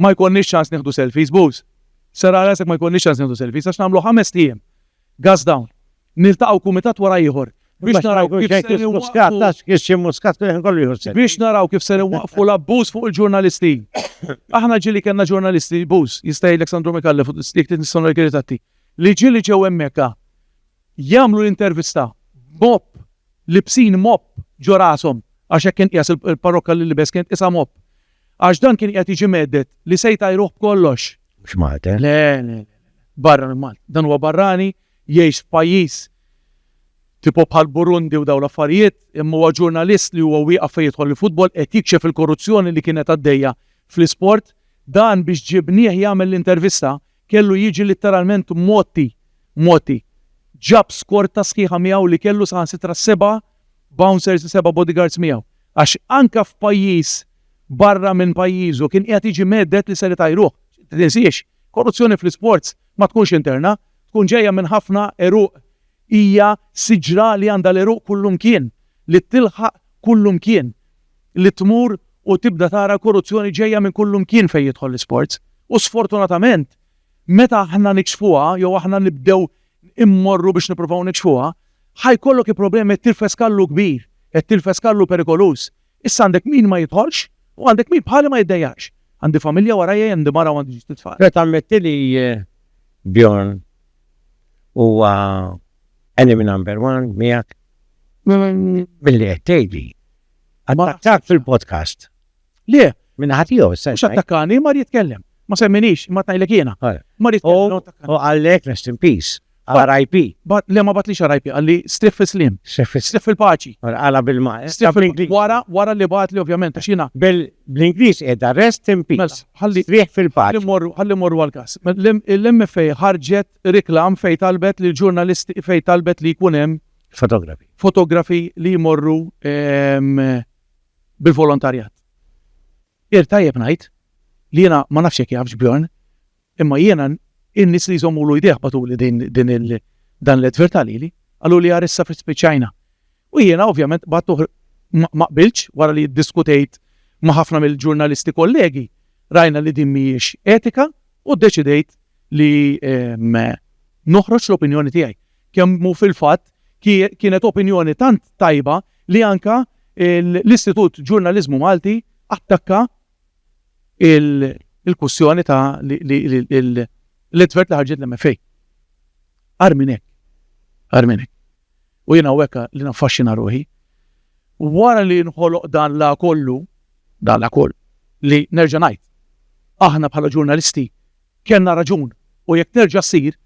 Ma jkollniex ċans nieħdu selfies, bus. Serraħ rasek ma jkollniex ċans nieħdu selfies għax nagħmlu ħames ħiem Gas dawn. Niltaqgħu kumitat wara ieħor biex naraw kif ser inwaqqfu biex naraw kif ser inwaqqfu l-abbuż fuq il-ġurnalisti. Aħna ġieli kellna ġurnalisti abuse, jista' jgħidlek Sandro Micallef u jekk trid nistgħu ngħidlek ir-ritratti, li ġieli ġew hemmhekk jagħmlu l-intervista b'mopp, libsin mopp ġo rashom, għax hekk kien qiegħes il-parrokka li libes kien tqisha mopp. Għax dan kien qiegħed jiġi mhedded li se jtajruh b'kollox. Mhux Malta. Le, le, le. Barra minn Malta. Dan huwa barrani, jgħix f'pajjiż tipo bħal Burundi u dawn l-affarijiet, imma huwa ġurnalist li huwa wieqaf fejn jidħol il-futbol qed jikxef il-korruzzjoni li kienet għaddejja fl-isport. Dan biex ġibnieh jagħmel l-intervista, kellu jiġi litteralment mgħotti, mgħotti. Ġab skorta sħiħa miegħu li kellu saħansitra seba' bouncers u seba' bodyguards miegħu. Għax anke f'pajjiż barra minn pajjiżu kien qiegħed jiġi mhedded li ser itajruh. Tinsiex, korruzzjoni fl-isports ma tkunx interna, tkun ġejja minn ħafna għeruq. Hija siġra li għandha l-għeruq kullimkien, li tilħaq kullimkien. li tmur u tibda tara l-korruzzjoni ġejja minn kullimkien fejn jidħol l-isports. U sfortunatament, meta aħna nikxfuha jew aħna nibdew immorru biex nippruvaw nikxfuha, ħa jkollok il-problema qed tirfes kallu kbir, qed tirfes kallu perikoluż. Issa għandek min ma jidħolx u għandek min bħali ma jiddejjaqx. Għandi familja warajja, għandi mara u għandi ġid tfal. Trid tammetti li Bjorn huwa enemy number one miegħek? Billi qed tgħidli. Attakk fil-podcast. Le. Minn ħadd jew sen. Mhux attakkani, mar jitkellem. Ma semminix, ma tgħidlek jiena. Mar jitkellem. U għallek rest in peace. RIP. But le ma batlix RIP, għalli strif fil-slim. Strif fil-paċi. Għala bil-ma. Eh? Strif fil-paċi. Wara, wara li batli ovvjament, xina. Bil-Inglis edha rest in peace. Mela, strif fil-paċi. Għalli morru għal-kas. Mela, L-MFA ħarġet Reklam fejn talbet li l-ġurnalisti fejn talbet li jkun hemm fotografi fotografi li jmorru ehm, bil-volontarjat. Ir tajjeb ngħid li jiena ma nafx jekk jafx Bjorn, imma jiena in-nies li jżommulu jdejh batuli din, din il, dan l-advertalili, għallu li għarissa fit spiċajna. U jiena ovvjament qbadtu ma qbiltx wara li ddiskutejt ma' ħafna mill-ġurnalisti kollegi, rajna li din mhijiex etika u ddeċidejt li noħroġ l-opinjoni tiegħi. Kemm hu fil-fatt kienet opinjoni tant tajba li anke l-Istitut Ġurnaliżmu Malti attakka l-kwistjoni ta' l-advert li ħarġet l-MFA. Agħar minn hekk. Agħar minn hekk. U jien hawnhekk li naffaxxina ruħi. Wara li nħoloq dan la kollu, dan la koll, li nerġa' ngħid, aħna bħala ġurnalisti kellna raġun u jekk terġa' ssir,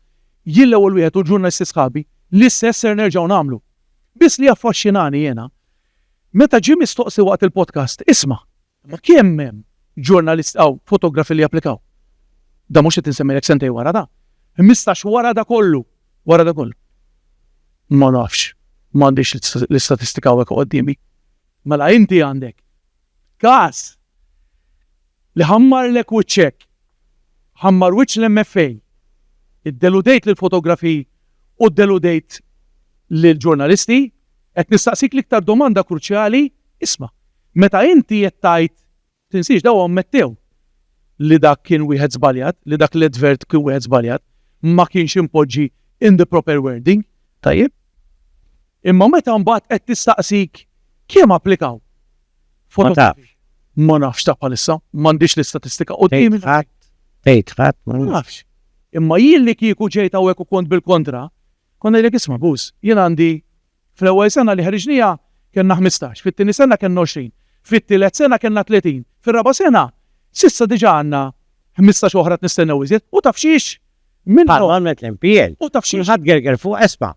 jien l-ewwel wieħed u l-ġurnalisti sħabi, l-istess ser nerġgħu nagħmlu. Biss li jaffaxxinani jiena, meta ġie mistoqsi waqt il-podcast, isma', Imma kemm hemm ġurnalisti hawn, fotografi li japplikaw? Dan mhux qed insemmilek sentejn wara dan. Ħmistax wara da kollu! Wara da kollu. Ma nafx, m'għandix l-istatistika hawnhekk quddiemi. Mela inti għandek każ li ħammarlek wiċċek, ħammar wiċċ l-MFA, iddeludejt lill-fotografi u ddeludejt lill-ġurnalisti, qed nistaqsik l-iktar domanda kruċjali, isma', Meta inti qed tgħid tinsiex, dawn ammettew li dak kien wieħed żbaljat, li dak l-advert kien wieħed żbaljat, ma kienx impoġġi in the proper wording, tajjeb? Imma meta mbagħad qed tistaqsik kemm applikaw? Ma tafx. Ma nafx ta' bħalissa, m'għandix l-istatistika quddiemi. Tgħid ħadd, tgħid ħadd, ma nafx. Imma jien li kieku ġejt hawnhekk u kont bil-kontra, kont ngħidlek isma' Buz, jien għandi Fl-ewwel sena li ħriġniha kellna ħmistax, fit-tieni sena kellna għoxrin, fit-tielet sena kellna tletin, fir-raba' sena, s'issa diġà għandna ħmistax oħra qed nistennew iżjed. U taf x'hix? Minnhom. Bħalma għamlet l-MPL. U taf x'hix? Kulħadd gerger fuq Espa.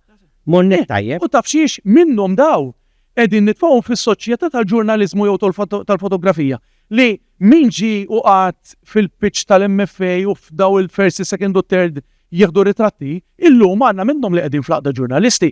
Mornieh tajjeb. U taf x'hix? Minnhom dawn qegħdin nitfgħuhom fis-soċjetà tal-ġurnaliżmu jew tal-fotografija li min ġie u qagħad fil-pitch tal-MFA u f'dawn il-first, is-second u t-third jieħdu ritratti, illum għandna minnhom li qegħdin fl-Għaqda Ġurnalisti.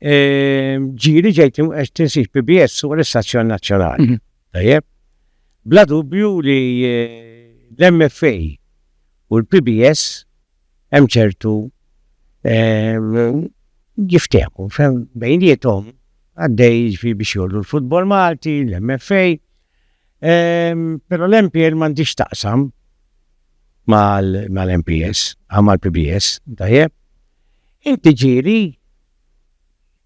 ġiri ġejt qed tinsib PBS fuq l-istazzjon nazzjonali. Mhm. Tajjeb? Bla dubju li eh, l-MFA u l-PBS hemm ċertu ehm, jiftehmu bejnietom għaddej fi biex jollu l-futbol Malti, l-MFA, ehm, pero l-MPL mandiġ taqsam mal-MPS, għamal PBS, tajjeb, Inti ġieli?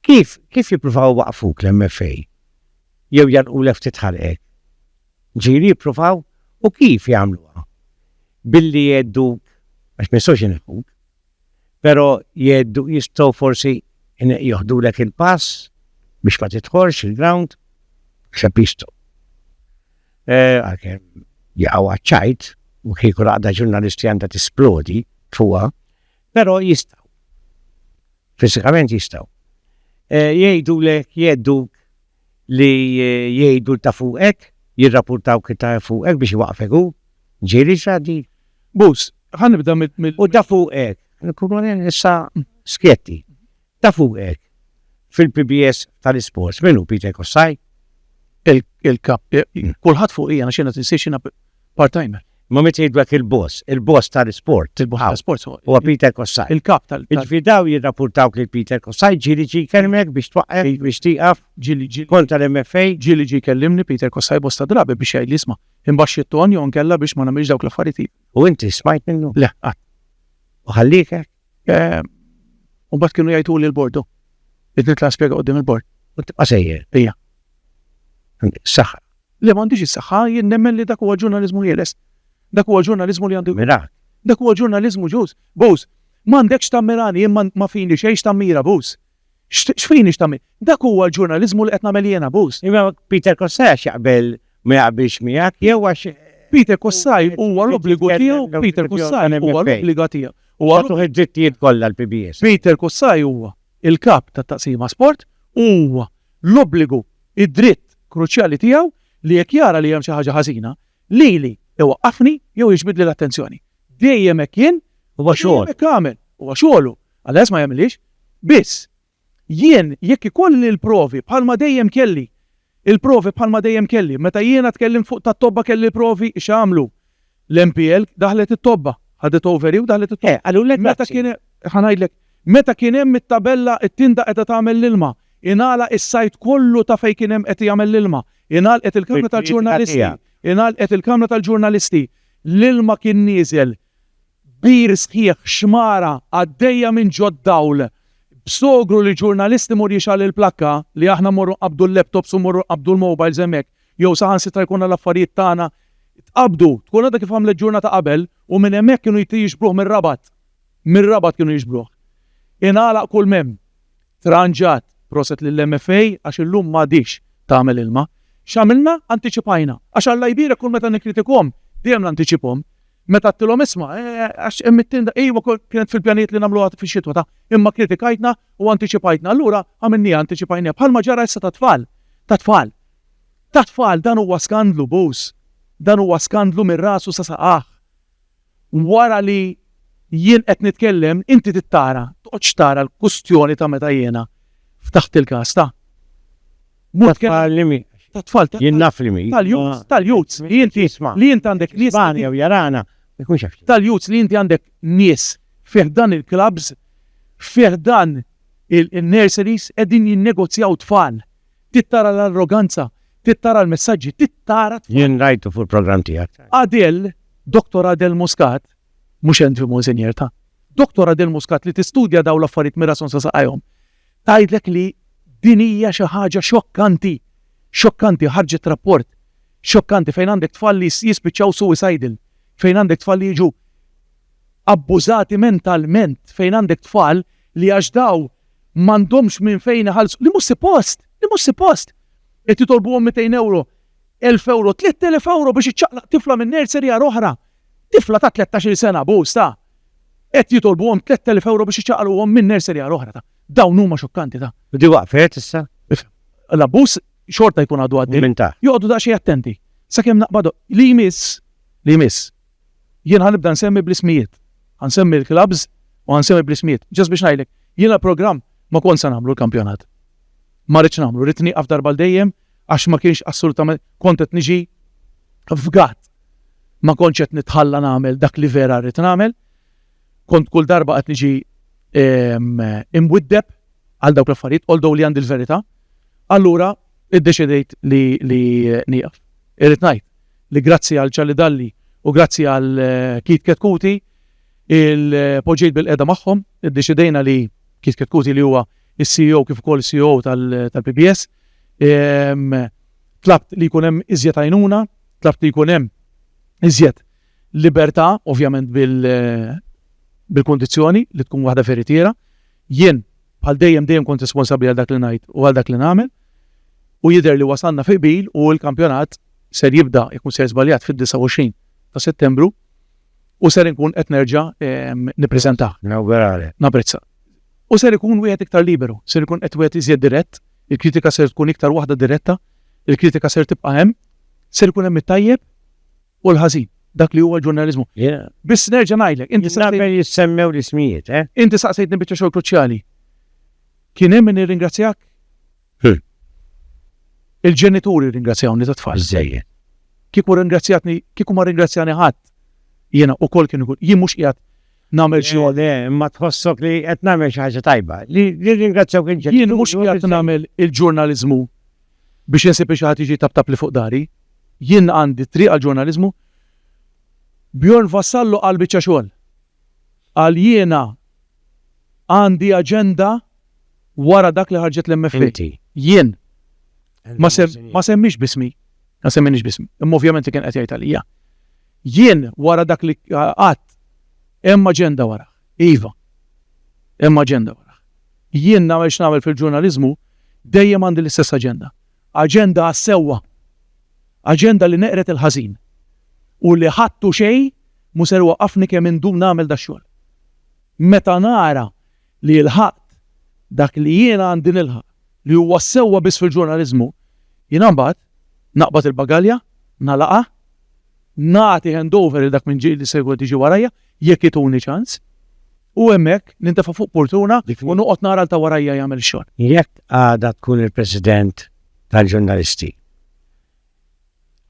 Kif, kif jippruvaw iwaqqfuk l-MFA? Jew jagħlqulek ftit ħalqek? Ġieli jippruvaw? U kif jagħmluha? Billi jgħedduk, għax ma jistgħux ineħħuk, però jgħeddu, jistgħu forsi joħdulek il-pass biex ma tidħolx il-ground? Naħseb jistgħu. Għalkemm jaqgħu għaċ-ċajt, u kieku l-għaqda ġurnalisti għandha tisplodi fuqha, Però jistgħu. Fiżikament jistgħu. Jgħidulek, jghedduk li jgħidu ta' fuqek, jirrapurtawk li ta' fuqek biex iwaqqfek hu. Ġieli x'għaddi. Bus, ħa nibda mill-. U ta' fuqek. Nkunu issa skjetti. Ta' fuq hekk, fil-PBS tal-isports min hu Peter Kossaj? Il-kap, kulħadd fuqija għax jiena tinsiex jiena part-timer. Imma meta jgħidulek il-boss, il-boss tal-isport, il-boss tal-isport huwa Peter Kossaj. Il-kap tal-, jiġifieri dawn jirrapurtawk lil Peter Kossaj, ġieli ġie jkellmek biex twaqqaf, biex tieqaf, ġieli ġie, kontra l-MFA? Ġieli ġie jkellimni Peter Kossaj bosta drabi biex jgħidli isma', imbaxxi it-ton jew inkella biex ma nagħmilx dawk l-affarijiet li. U inti smajt minnu? Le, qatt. U ħalliek hekk? Eh, u bat kienu jajtu li l-bordu. Id nitla spiega għoddim il-bord. U tibqa sejjer. Ija. Saħħa. Li m'għandix is-saħħa jien nemmen li dak huwa ġurnalizmu ħieles. Dak huwa ġurnalizmu li għandu. Mira. Dak huwa ġurnalizmu ġus. Bus, m'għandekx tammirani jien ma fini xejn x'tammira bus. X'fini x'tagħmel? Dak huwa l-ġurnaliżmu li qed nagħmel jiena, Buz. Imma Peter Kossaj għax jaqbel ma jaqbilx miegħek jew għax. Peter Kossaj huwa l-obbligu tiegħu, Peter Kossaj huwa l-obbliga tiegħu. Huwa tagħtuh id-drittijiet kollha l-PBS. Peter Kossaj huwa l-kap tat-taqsima sport u huwa l-obbligu, id-dritt kruċjali tiegħu li jekk jara li hemm xi ħaġa ħażina, lili iwaqqafni jew jiġbidli l-attenzjoni. Dejjem hekk kien, dejjem hekk għamel, huwa xogħlu. Allez ma jagħmilhiex? Biss, jien jekk ikolli l-provi bħalma dejjem kelli, il-provi bħalma dejjem kelli, meta jiena tkellimt fuq tat-tobba kelli l-provi, x'għamlu? L-MPL daħlet it-tobba, ħadet over hi u daħlet it-tobba. Eh, qalulek Meta kien ħa ngħidlek, meta kien hemm it-tabella t-tinda qiegħda tagħmel l-ilma, ingħalaq is-sajt kollu ta' fejn kien hemm qed jagħmel l-ilma, ingħalqet il-kamra tal-ġurnalisti, ingħalqet il-kamra tal-ġurnalisti, l-ilma kien nieżel Bir sħiħ, xmara għaddejja minn ġod-dawl. B'sogru li ġurnalist imur jixgħal il-plakka, li aħna mmorru nqabbdu l-laptops u mmorru nqabbdu l-mobiles hemmhekk, jew saħansitra jkollna l-affarijiet tagħna tqabbdu, tkun għadha kif għamlet ġurnata qabel, u minn hemmhekk kienu jixbruh mir-Rabat. Mir-Rabat kienu jixbruh. Ingħalaq kull m'hemm. Tranġat, proset lill-MFA għax illum m'għadhiex tagħmel ilma. X'għamilna? Antiċipajna. Għax Alla jbierek kull meta nikkritikahom, dejjem nantiċipahom. Meta għedtilhom isma', għax hemm it-tinda, ejwa kienet fil-pjanijiet li nagħmluha fix-xitwa ta', imma kritikajtna u antiċipajtna. Allura għamilniha antiċipajniha. Bħalma ġara issa tat-tfal. Tat-tfal. Tat-tfal dan huwa skandlu, Buz. Dan huwa skandlu minn rasu sa saqajh. Wara li jien qed nitkellem, inti trid tara, toqgħodx tara l-kustjoni ta' meta jiena ftaħt il-każ ta'. Ta' tfal li mi. Ta' tfal ta'. Jien naf li mi. Tal-youths, tal-youths li inti li int għandek nies. Spanja u jarana, ma jkunx jaf. Tal-youths li inti għandek nies fi ħdan il-klabbs, fi ħdan in-nurseries qegħdin jinnegozjaw tfal. Trid tara l-arroganza, trid tara l-messaġġi, trid tara t-tfal. Jien rajtu fuq il-programm tiegħek. Adel, Doktor Adel Muscat, mhux Andrew Monseigneur, ta'. Doktor Adel Muscat li tistudja dawn l-affarijiet mir-rason sa saqajhom, tgħidlek li din hija xi ħaġa xokkanti, xokkanti, ħarġet rapport xokkanti fejn għandek tfal li jispiċċaw suicidal, fejn għandek tfal li jiġu abbużati mentalment, fejn għandek tfal li għax dawn M'għandhomx minn fejn iħallsu, li mhux sipost, li mhux sipost! Qed jitolbuhom mitejn ewro, elf ewro, tlett elef ewro biex iċċaqlaq tifla minn nursery għal oħra. Tifla ta' tlettax-il sena, abbuż ta'! Qed jitolbuhom tlett elef ewro biex iċċaqalquhom minn nursery għal oħra ta'! Dawn huma xokkanti ta'! U di waqfet issa? L-abbuż xorta jkun għadu għaddej. Minn ta'? Joqogħdu daqsxejn attenti. Sakemm naqbadu. Li jmiss, li jmiss. Jien ħa nibda nsemmi bl-ismijiet. Ħa nsemmi l-clubs u ħa nsemmi bl-ismijiet. Just biex ngħidlek, jiena l-programm ma kontx se nagħmlu l-kampjonat. Ma ridtx nagħmlu, ridt nieqaf darba għal dejjem għax ma kienx assolutament, kont qed niġi f'gatt. Ma kontx qed nitħalla nagħmel dak li vera rrid nagħmel. Kont kull darba qed niġi ehm, imwiddeb għal dawk l-affarijiet, although li għandi l-verità. Allura, iddeċidejt li nieqaf. Irrid ngħid, li grazzi għal Charlie Dalli u grazzi għal Keith Ketkuti poġġejt bilqiegħda magħhom, iddeċidejna li Keith Ketkuti li huwa s-CEO kif ukoll is-COO tal-PBS, tlabt li jkun hemm iżjed għajnuna, tlabt li jkun hemm iżjed libertà, ovvjament bil-kundizzjoni li tkun waħda veritiera, Jien, bħal dejjem dejjem kont responsabbli għal dak li ngħid u għal dak li nagħmel u jidher li wasalna fi qbil u l-kampjonat ser jibda, jekk mhux sejjer żbaljat, fid-29 ta' Settembru u ser inkun qed nerġa' nippreżentah. Nawguralek. Napprezza. U ser ikun wieħed iktar liberu, ser ikun qed wieħed iżjed dirett, il-kritika ser tkun iktar waħda diretta, il-kritika ser tibqa' hemm, ser ikun hemm it-tajjeb, u l-ħażin, dak li huwa l-ġurnaliżmu. Biss nerġa' ngħidlek, inti saqsejtni. Naqbel jissemmew l-ismijiet, eh? Inti saqsejtni biċċa xogħol kruċjali. Kien hemm min irringrazzjak? Il-ġenituri rringrazzjawni tat-tfal. Biżżejjed. Kieku rringrazzjatni, kieku ma rringrazzjani ħadd, jiena wkoll kien ikun, jien mhux qiegħed nagħmel xi Le, imma tħossok li qed nagħmel xi ħaġa tajba. Li rringrazzjawk il-ġenituri. Jien mhux qiegħed nagħmel il-ġurnaliżmu Biex insib li xi ħadd jiġi jtaptabli fuq dari, jien għandi triq għall-ġurnaliżmu. Bjorn Vassallo qal biċċa xogħol. Qal jiena għandi aġenda wara dak li ħarġet l-MFA. Inti. Jien. Ma semmix b'ismi. Ma semminix b'ismi. Imma ovvjament li kien qed jgħid għalija. Jien wara dak li qatt hemm aġenda warah. Iva, hemm aġenda wara. Jien, nagħmel x'nagħmel fil-ġurnaliżmu, dejjem għandi l-istess aġenda. Aġenda għas-sewwa. Aġenda li neqred il-ħażin. U li ħadd u xejn mhu ser iwaqqafni kemm indum nagħmel dax-xogħol. Meta nara li lħaqt dak li jiena għandi nilħaq, li huwa s-sewwa biss fil-ġurnaliżmu, jiena mbagħad naqbad il-bagalja, nagħlaqha, nagħti handover lil dak minn ġieli li se jkun qed jiġi warajja, jekk ituni ċans, u hemmhekk nintefa' fuq purtuna u noqgħod nara għal ta' warajja jagħmel ix-xogħol. Jekk għada tkun il-President tal-Ġurnalisti,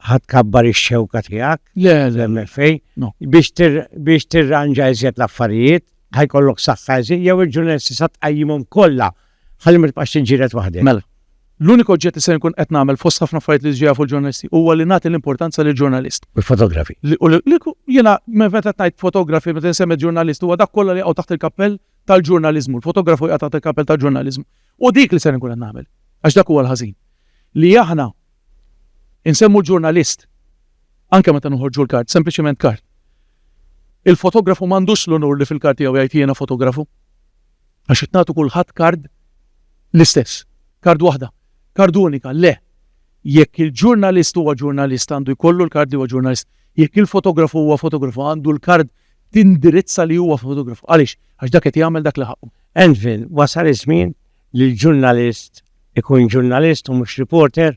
ħa tkabbar ix-xewka tiegħek? Le, le, le. Fej? Biex tirranġa iżjed l-affarijiet, ħa jkollok saħħa iżjed, jew il-ġurnalisti sa tqajjimhom kollha Ħalli ma tibqax tinġieled waħdek. Mela. L-uniku oġġett li ser inkun qed nagħmel fost ħafna affarijiet li diġà jafu l-ġurnalisti huwa li nagħti l-importanza lill-ġurnalist. U l-fotografi. U li, li ku, jiena meta qed ngħid fotografi, meta insemmi ġurnalist huwa dak kollha li jaqgħu taħt il-kappell tal-ġurnaliżmu. Il-fotografu jaqa' taħt il-kappell tal-ġurnaliżmu. U dik li ser inkun qed nagħmel. Għax dak huwa l-ħażin. Li aħna insemmu l-ġurnalist anke meta noħorġu l-kart, sempliċement kart. Il-fotografu m'għandux l-unur li fil-kart tiegħu jgħid jiena fotografu. Għax qed nagħtu kulħadd kard l-istess. Kard waħda. Kard unika. Le. Jekk il-ġurnalist huwa ġurnalist għandu jkollu l-kard li huwa ġurnalist. Jekk il-fotografu huwa fotografu għandu l-kard tindirizza li huwa fotografu. Għaliex? Għax dak qed jagħmel dak li ħaqqu. Anvil, wasal iż-żmien li l-ġurnalist ikun ġurnalist u mhux reporter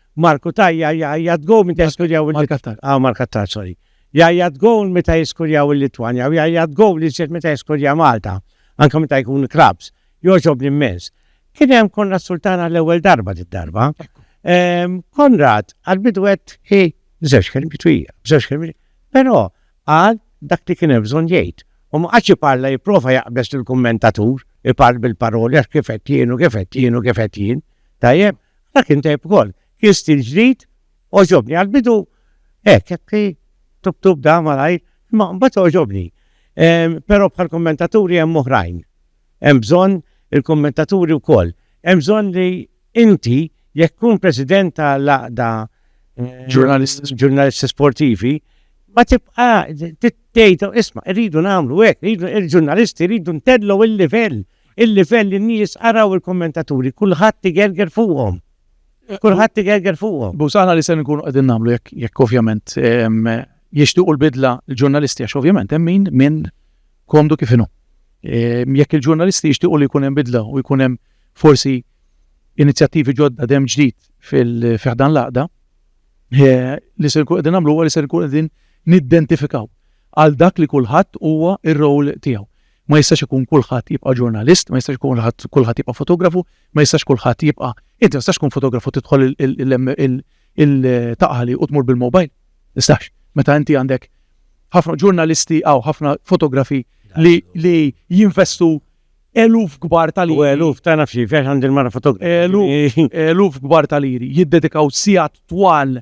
Marku ta' jgħajjat gowl meta jiskurjaw il-Litwanja. Ah, Mark Attar, sorry. Jgħajjat gowl meta jiskurjaw il-Litwanja u jgħajjat gowl iżjed meta jiskurja Malta, anke meta jkun clubs. Jogħġobni immens. Kien hemm Konrad Sultana l-ewwel darba darba. Ehm, Konrad għal-bidu għed hi bżewġ kelmi twija, bżewġ kelmi. Però għal dak li kien hemm bżonn jgħid. U ma qatx parla jipprova jaqbeż lill-kummentatur, ipar bil-paroli għax kif qed jienu, kif qed jienu, kif qed jien. Tajjeb, Dak kien tajb ukoll. Kien stil ġdid, oġobni għal-bidu hekk, hekk tub tub da malajr, imma mbagħad oġobni. Però bħal kommentaturi hemm oħrajn. Hemm bżonn il-kommentaturi wkoll. Hemm bżonn li inti jekk tkun president ta' laqda ġurnalisti sportivi, ma tibqa' tgħid isma' rridu nagħmlu hekk, il-ġurnalisti rridu ntedlu il-livell Il-livell in-nies araw il-kummentaturi, kulħadd igerger fuqhom. Kulħadd igerger fuqhom. Bus aħna li se nkunu qegħdin nagħmlu jekk jekk ovvjament jixtiequ l-bidla l-ġurnalisti għax ovvjament hemm min minn komdu kif inhu. Jekk il-ġurnalisti jixtiequ li jkun hemm bidla u jkun hemm forsi inizjattivi ġodda dem ġdid fil-fiħdan laqda, eh, li se nkun qegħdin nagħmlu li se nkun qegħdin niddentifikaw għal dak li kulħadd huwa ir-rol tiegħu. Ma jistax ikun kulħadd jibqa' ġurnalist, ma jistax ikun kulħadd jibqa' fotografu, ma jistax kulħadd jibqa' inti ma jistax tkun fotografu tidħol il-taqali u tmur bil-mobile. Istax. Meta inti għandek ħafna ġurnalisti għaw ħafna fotografi li jinvestu eluf kbar tal-iri. U eluf ta' nafxi, fiex għandil mara fotografi. Eluf kbar tal-iri, jiddedikaw sijat twal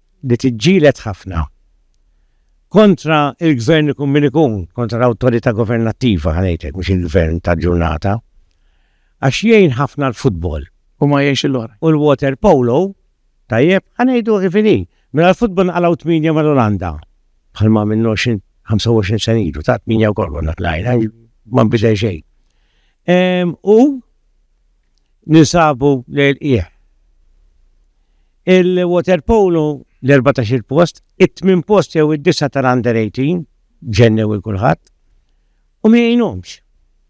li tiġġieled ħafna kontra l-gvern ikun min ikun, kontra l-awtorità governattiva ħa ngħidlek mhux il-gvern tal-ġurnata, għax jgħin ħafna l-futbol. U ma jgħinx il-lor. U l-water polo, tajjeb, ħa ngħidu ħifini, mela l-futbol naqalaw 8 mal-Olanda, bħalma minn 25 sen ilu, ta' 8 u kollu natlajna, ma nbidel xejn. U ninsabu lejl qiegħ. Il-waterpolo l-erbatax-il post, it-tmien post jew id-disgħa tal-under 18 ġennew il kulħadd u ma jgħinhomx.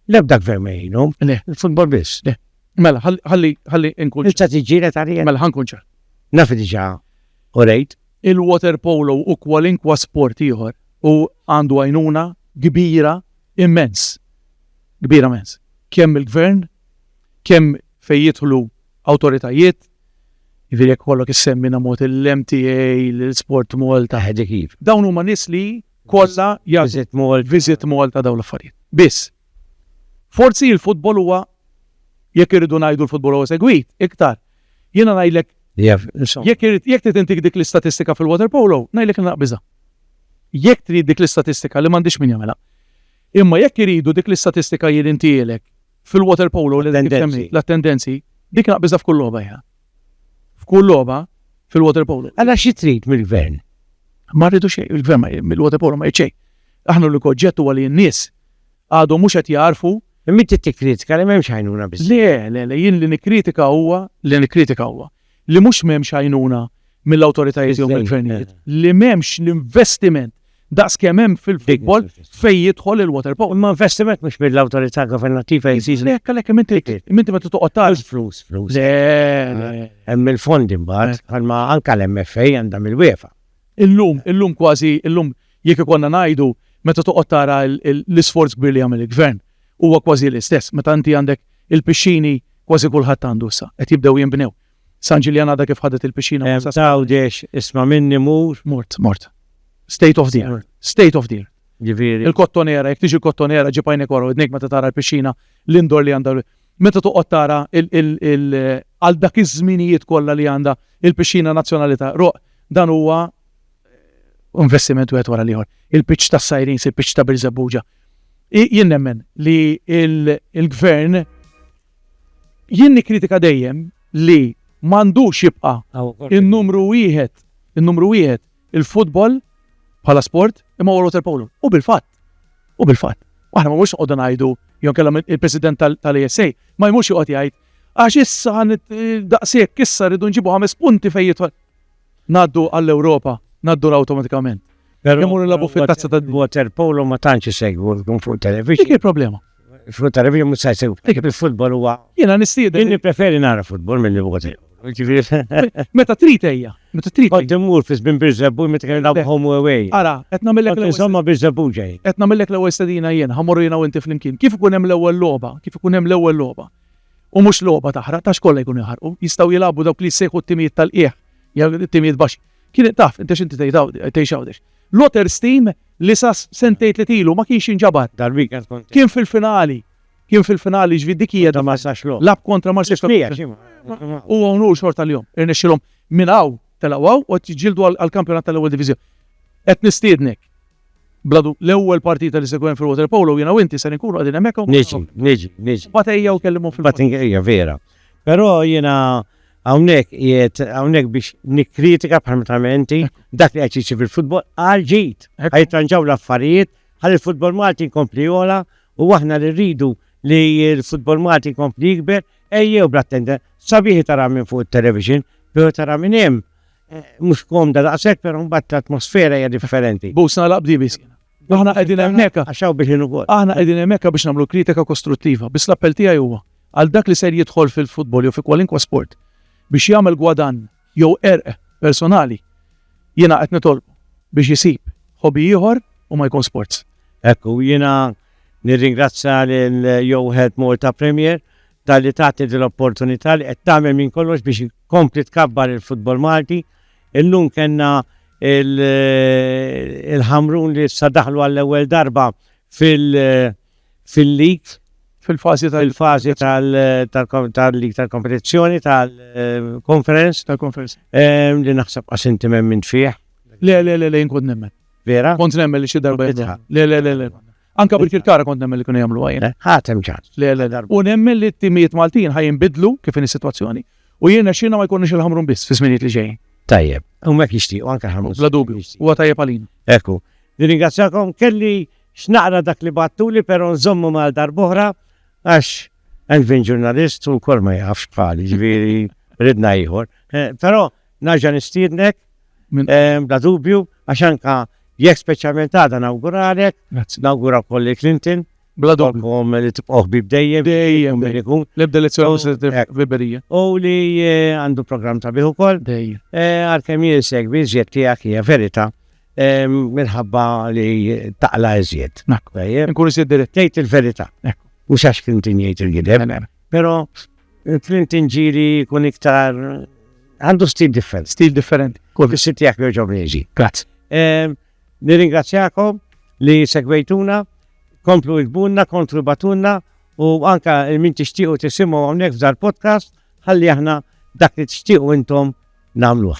L-ebda gvern ma jgħinhom. Le, il-futbol biss, le. Mela, ħalli, ħalli nkun. Inta tiġġiela ta' rijen. Mela, ħankun ċar. Naf diġa u rejt. Il-water polo u kwalinkwa sport ieħor u għandu għajnuna kbira immens. Kbira immens. Kemm il-gvern, kemm fejn jidħlu awtoritajiet, jiġifieri jekk ikollok issemmi na mod il-MTA, l-Sport Malta. Eħe dik hi. Dawn huma nies li kollha jagħtu. Visit Malta. Visit Malta dawn l-affarijiet. Biss, forsi l-futbol huwa jekk irridu ngħidu l-futbol huwa segwit iktar. Jiena ngħidlek jekk irid jekk trid intik dik l-istatistika fil-water polo, ngħidlek nilaq biża'. Jekk trid dik l-istatistika li m'għandix min jagħmilha. Imma jekk iridu dik l-istatistika jien intihielek fil-waterpolo li kif semmejt, l-attendenzi, dik naqbiżha f'kull logħba jiena. F'kull logħba fil-waterpolo. Allura xi trid mill-Gvern? Ma rridu xejn, il-Gvern mill-waterpolo ma jrid xejn. Aħna l-unika oġġett huwa li n-nies għadhom mhux qed jagħrfu Imma inti tikkritika li m'hemmx għajnuna biżżejjed. Le, le, le, jien li nikkritika huwa, li nikkritika huwa, li mhux m'hemmx għajnuna mill-awtoritajiet jew mill-gvernijiet, li m'hemmx l-investiment daqs kemm hemm fil-futbol fejn jidħol il-water polo. Imma investiment mhux mill-awtorità governattiva jeżiġi. Le, hekk għalhekk inti inti meta toqgħod tara. Flus, flus. Le, le. Hemm il-fondi mbagħad, bħalma anke l-MFA għandha mill-UEFA. Illum, illum kważi, illum jekk ikollna ngħidu, meta toqgħod tara l-isforz kbir li jagħmel il-Gvern, huwa kważi l-istess. Meta inti għandek il-pixxini, kważi kulħadd għandu issa, qed jibdew jinbnew. San Ġiljan għadha kif ħadet il-pixxina minn San Ġiljan. Għawdex, isma' minni mur. Mort, mort. State of the art. State of the art. Ġifieri. Il-Kottonera, jekk tiġi l-Kottonera ġib għajnek wara widnejk meta tara l-pixxina, l-indoor li għandha. Meta toqgħod tara għal dak iż-żminijiet kollha li għandha l-Pixxina Nazzjonali ta' Għruq, dan huwa investiment wieħed wara l-ieħor. Il-pitch tas-Sirens, il-pitch ta' Birżebbuġa. Jien nemmen li l-Gvern, jien nikkritika dejjem li m'għandux jibqa' n-numru wieħed, in-numru wieħed il-futbol bħala sport imma water polo. U bil-fatt. U bil-fatt, aħna ma mhux noqogħdu ngħidu jew inkella il-President tal-ESA ma jmux joqgħod jgħid għax issa daqshekk issa rridu nġibu ħames punti fejn jidħol. Ngħaddu għall-Ewropa, ngħaddu awtomatikament. Imur il-labu fit-tazza tad-water polo ma tantx isegwu fuq television. Dik il-problema. Frutta review mhux se jsir. Dik il-futbol huwa. Jiena nistieden. Jien nippreferi nara futbol milli voti. Meta trid ejja, meta trid. Kont immur fi żbin Birżebbuġ meta kien nilgħab home u away. Ara, qed nagħmillek l-ewwel. Insomma Birżebbuġ ġej. Qed nagħmillek l-ewwel stedina jien, ħammur jiena u inti flimkien. Kif ikun hemm l-ewwel logħba, kif ikun hemm l-ewwel logħba. U mhux logħba taħraq, tax kollha jkunu jħarqu, jistgħu jilagħbu dawk li jsejħu t-timijiet tal-qiegħ, jew it-timijiet baxxi. Kien taf, inti x'inti tgħid hawn, tgħix hawnx. Lotter Steam li sa sentejn tliet ilu ma kienx jinġabar. Dal-weekend kont. Kien fil-finali. Kien fil-finali ġvid dik hija da Marsax Law. Lab kontra Marsax Law. U hawn hu xorta l-jum. Irnexxilhom minn hawn telgħu hawn u qed jiġġieldu għall-kampjonat tal-ewwel diviżjoni. Qed nistiednek bladu l-ewwel partita li se jkun fil water polo jiena u inti se nkunu qegħdin hemmhekk. Niġi, niġi, niġi. Batejja u kellimhom fil-batejja. Batejja vera. Però jiena Hawnhekk qiegħed hawnhekk biex nikkritika bħal ma tagħmel inti dak li qed jiġri fil-futbol għal ġid. Ħa jitranġaw l-affarijiet ħalli l-futbol Malti jkompli jogħla u aħna li rridu li l-futbol Malti jkompli jikber ejjew bl-attenda sabiħi tara minn fuq it-television, però tara minn hemm mhux komda daqshekk però mbagħad l-atmosfera hija differenti. Busna laqbdi biss. Aħna qegħdin hemmhekk għax hawn biex inwol. Aħna qegħdin hemmhekk biex nagħmlu kritika kostruttiva, biss l-appell tiegħi huwa għal dak li ser jidħol fil-futbol jew fi kwalinkwa sport biex jagħmel gwadann jew qerq personali, jiena qed nitolbu biex isib hobby ieħor u ma jkun sports. Ekku, jiena nirringrazzja lil Jowħed Malta Premier tal-li tagħti l-opportunità li qed tagħmel minn kollox biex kompli tkabbar il-futbol Malti Illum kellna il-Ħamrun li issa daħlu għall-ewwel darba fil-lig. Fil-fażi tal-. Fil-fażi tal-lig tal-kompetizzjoni tal-conference. Tal-conference. Li naħseb għax inti m'hemm fih. Le, le, le, le, inkun nemmen. Vera? Kont nemmen li xi darba. Le, le, le, le. Anka bil-Kirkara kont nemmen li kienu jagħmluha jien. Ħadd hemm ċans. Le, le, le. U nemmen li t-timijiet Maltin ħajinbidlu kif inhi s-sitwazzjoni u jien nexxina ma jkunniex il-Ħamrun biss fi żminijiet li ġejjin. Tajjeb, u mek jixtiequ anke ħamrun. Bla dubju, huwa tajjeb għalina. Ekku, nirringrazzjakom kelli x'naqra dak li battuli però nżommu mal darbohra għax Elvin ġurnalist u wkoll ma jafx bħali, ġifieri ridna ieħor. Eh, però Nerġa' nistiednek bla dubju għax anke jekk speċjalment għada nawguralek, nawgura wkoll lil Clinton. Bla dubju. Li tibqgħu ħbieb dejjem. Dejjem. L-ebda lezzjoni mhux se tifhem ħbiberija. U li għandu programm sabiħ ukoll. Dejjem. Għalkemm jien insegwi żjed tiegħek hija verità minħabba li taqla iżjed. Nkun iżjed dirett. Tgħid il-verità. Mhux għax Clinton jgħid il-gideb. Però Il-print tinġiri kun iktar għandu stil differenti. Stil differenti. Kull fis-sit tiegħek jerġgħu reġi. Grazzi. Ehm, nirringrazzjakom li segwejtuna, komplu ikbunna, kontru batunna u anka il-min tixtiequ tisimgħu hawnhekk f'dar podcast ħalli aħna dak li tixtiequ intom nagħmluh.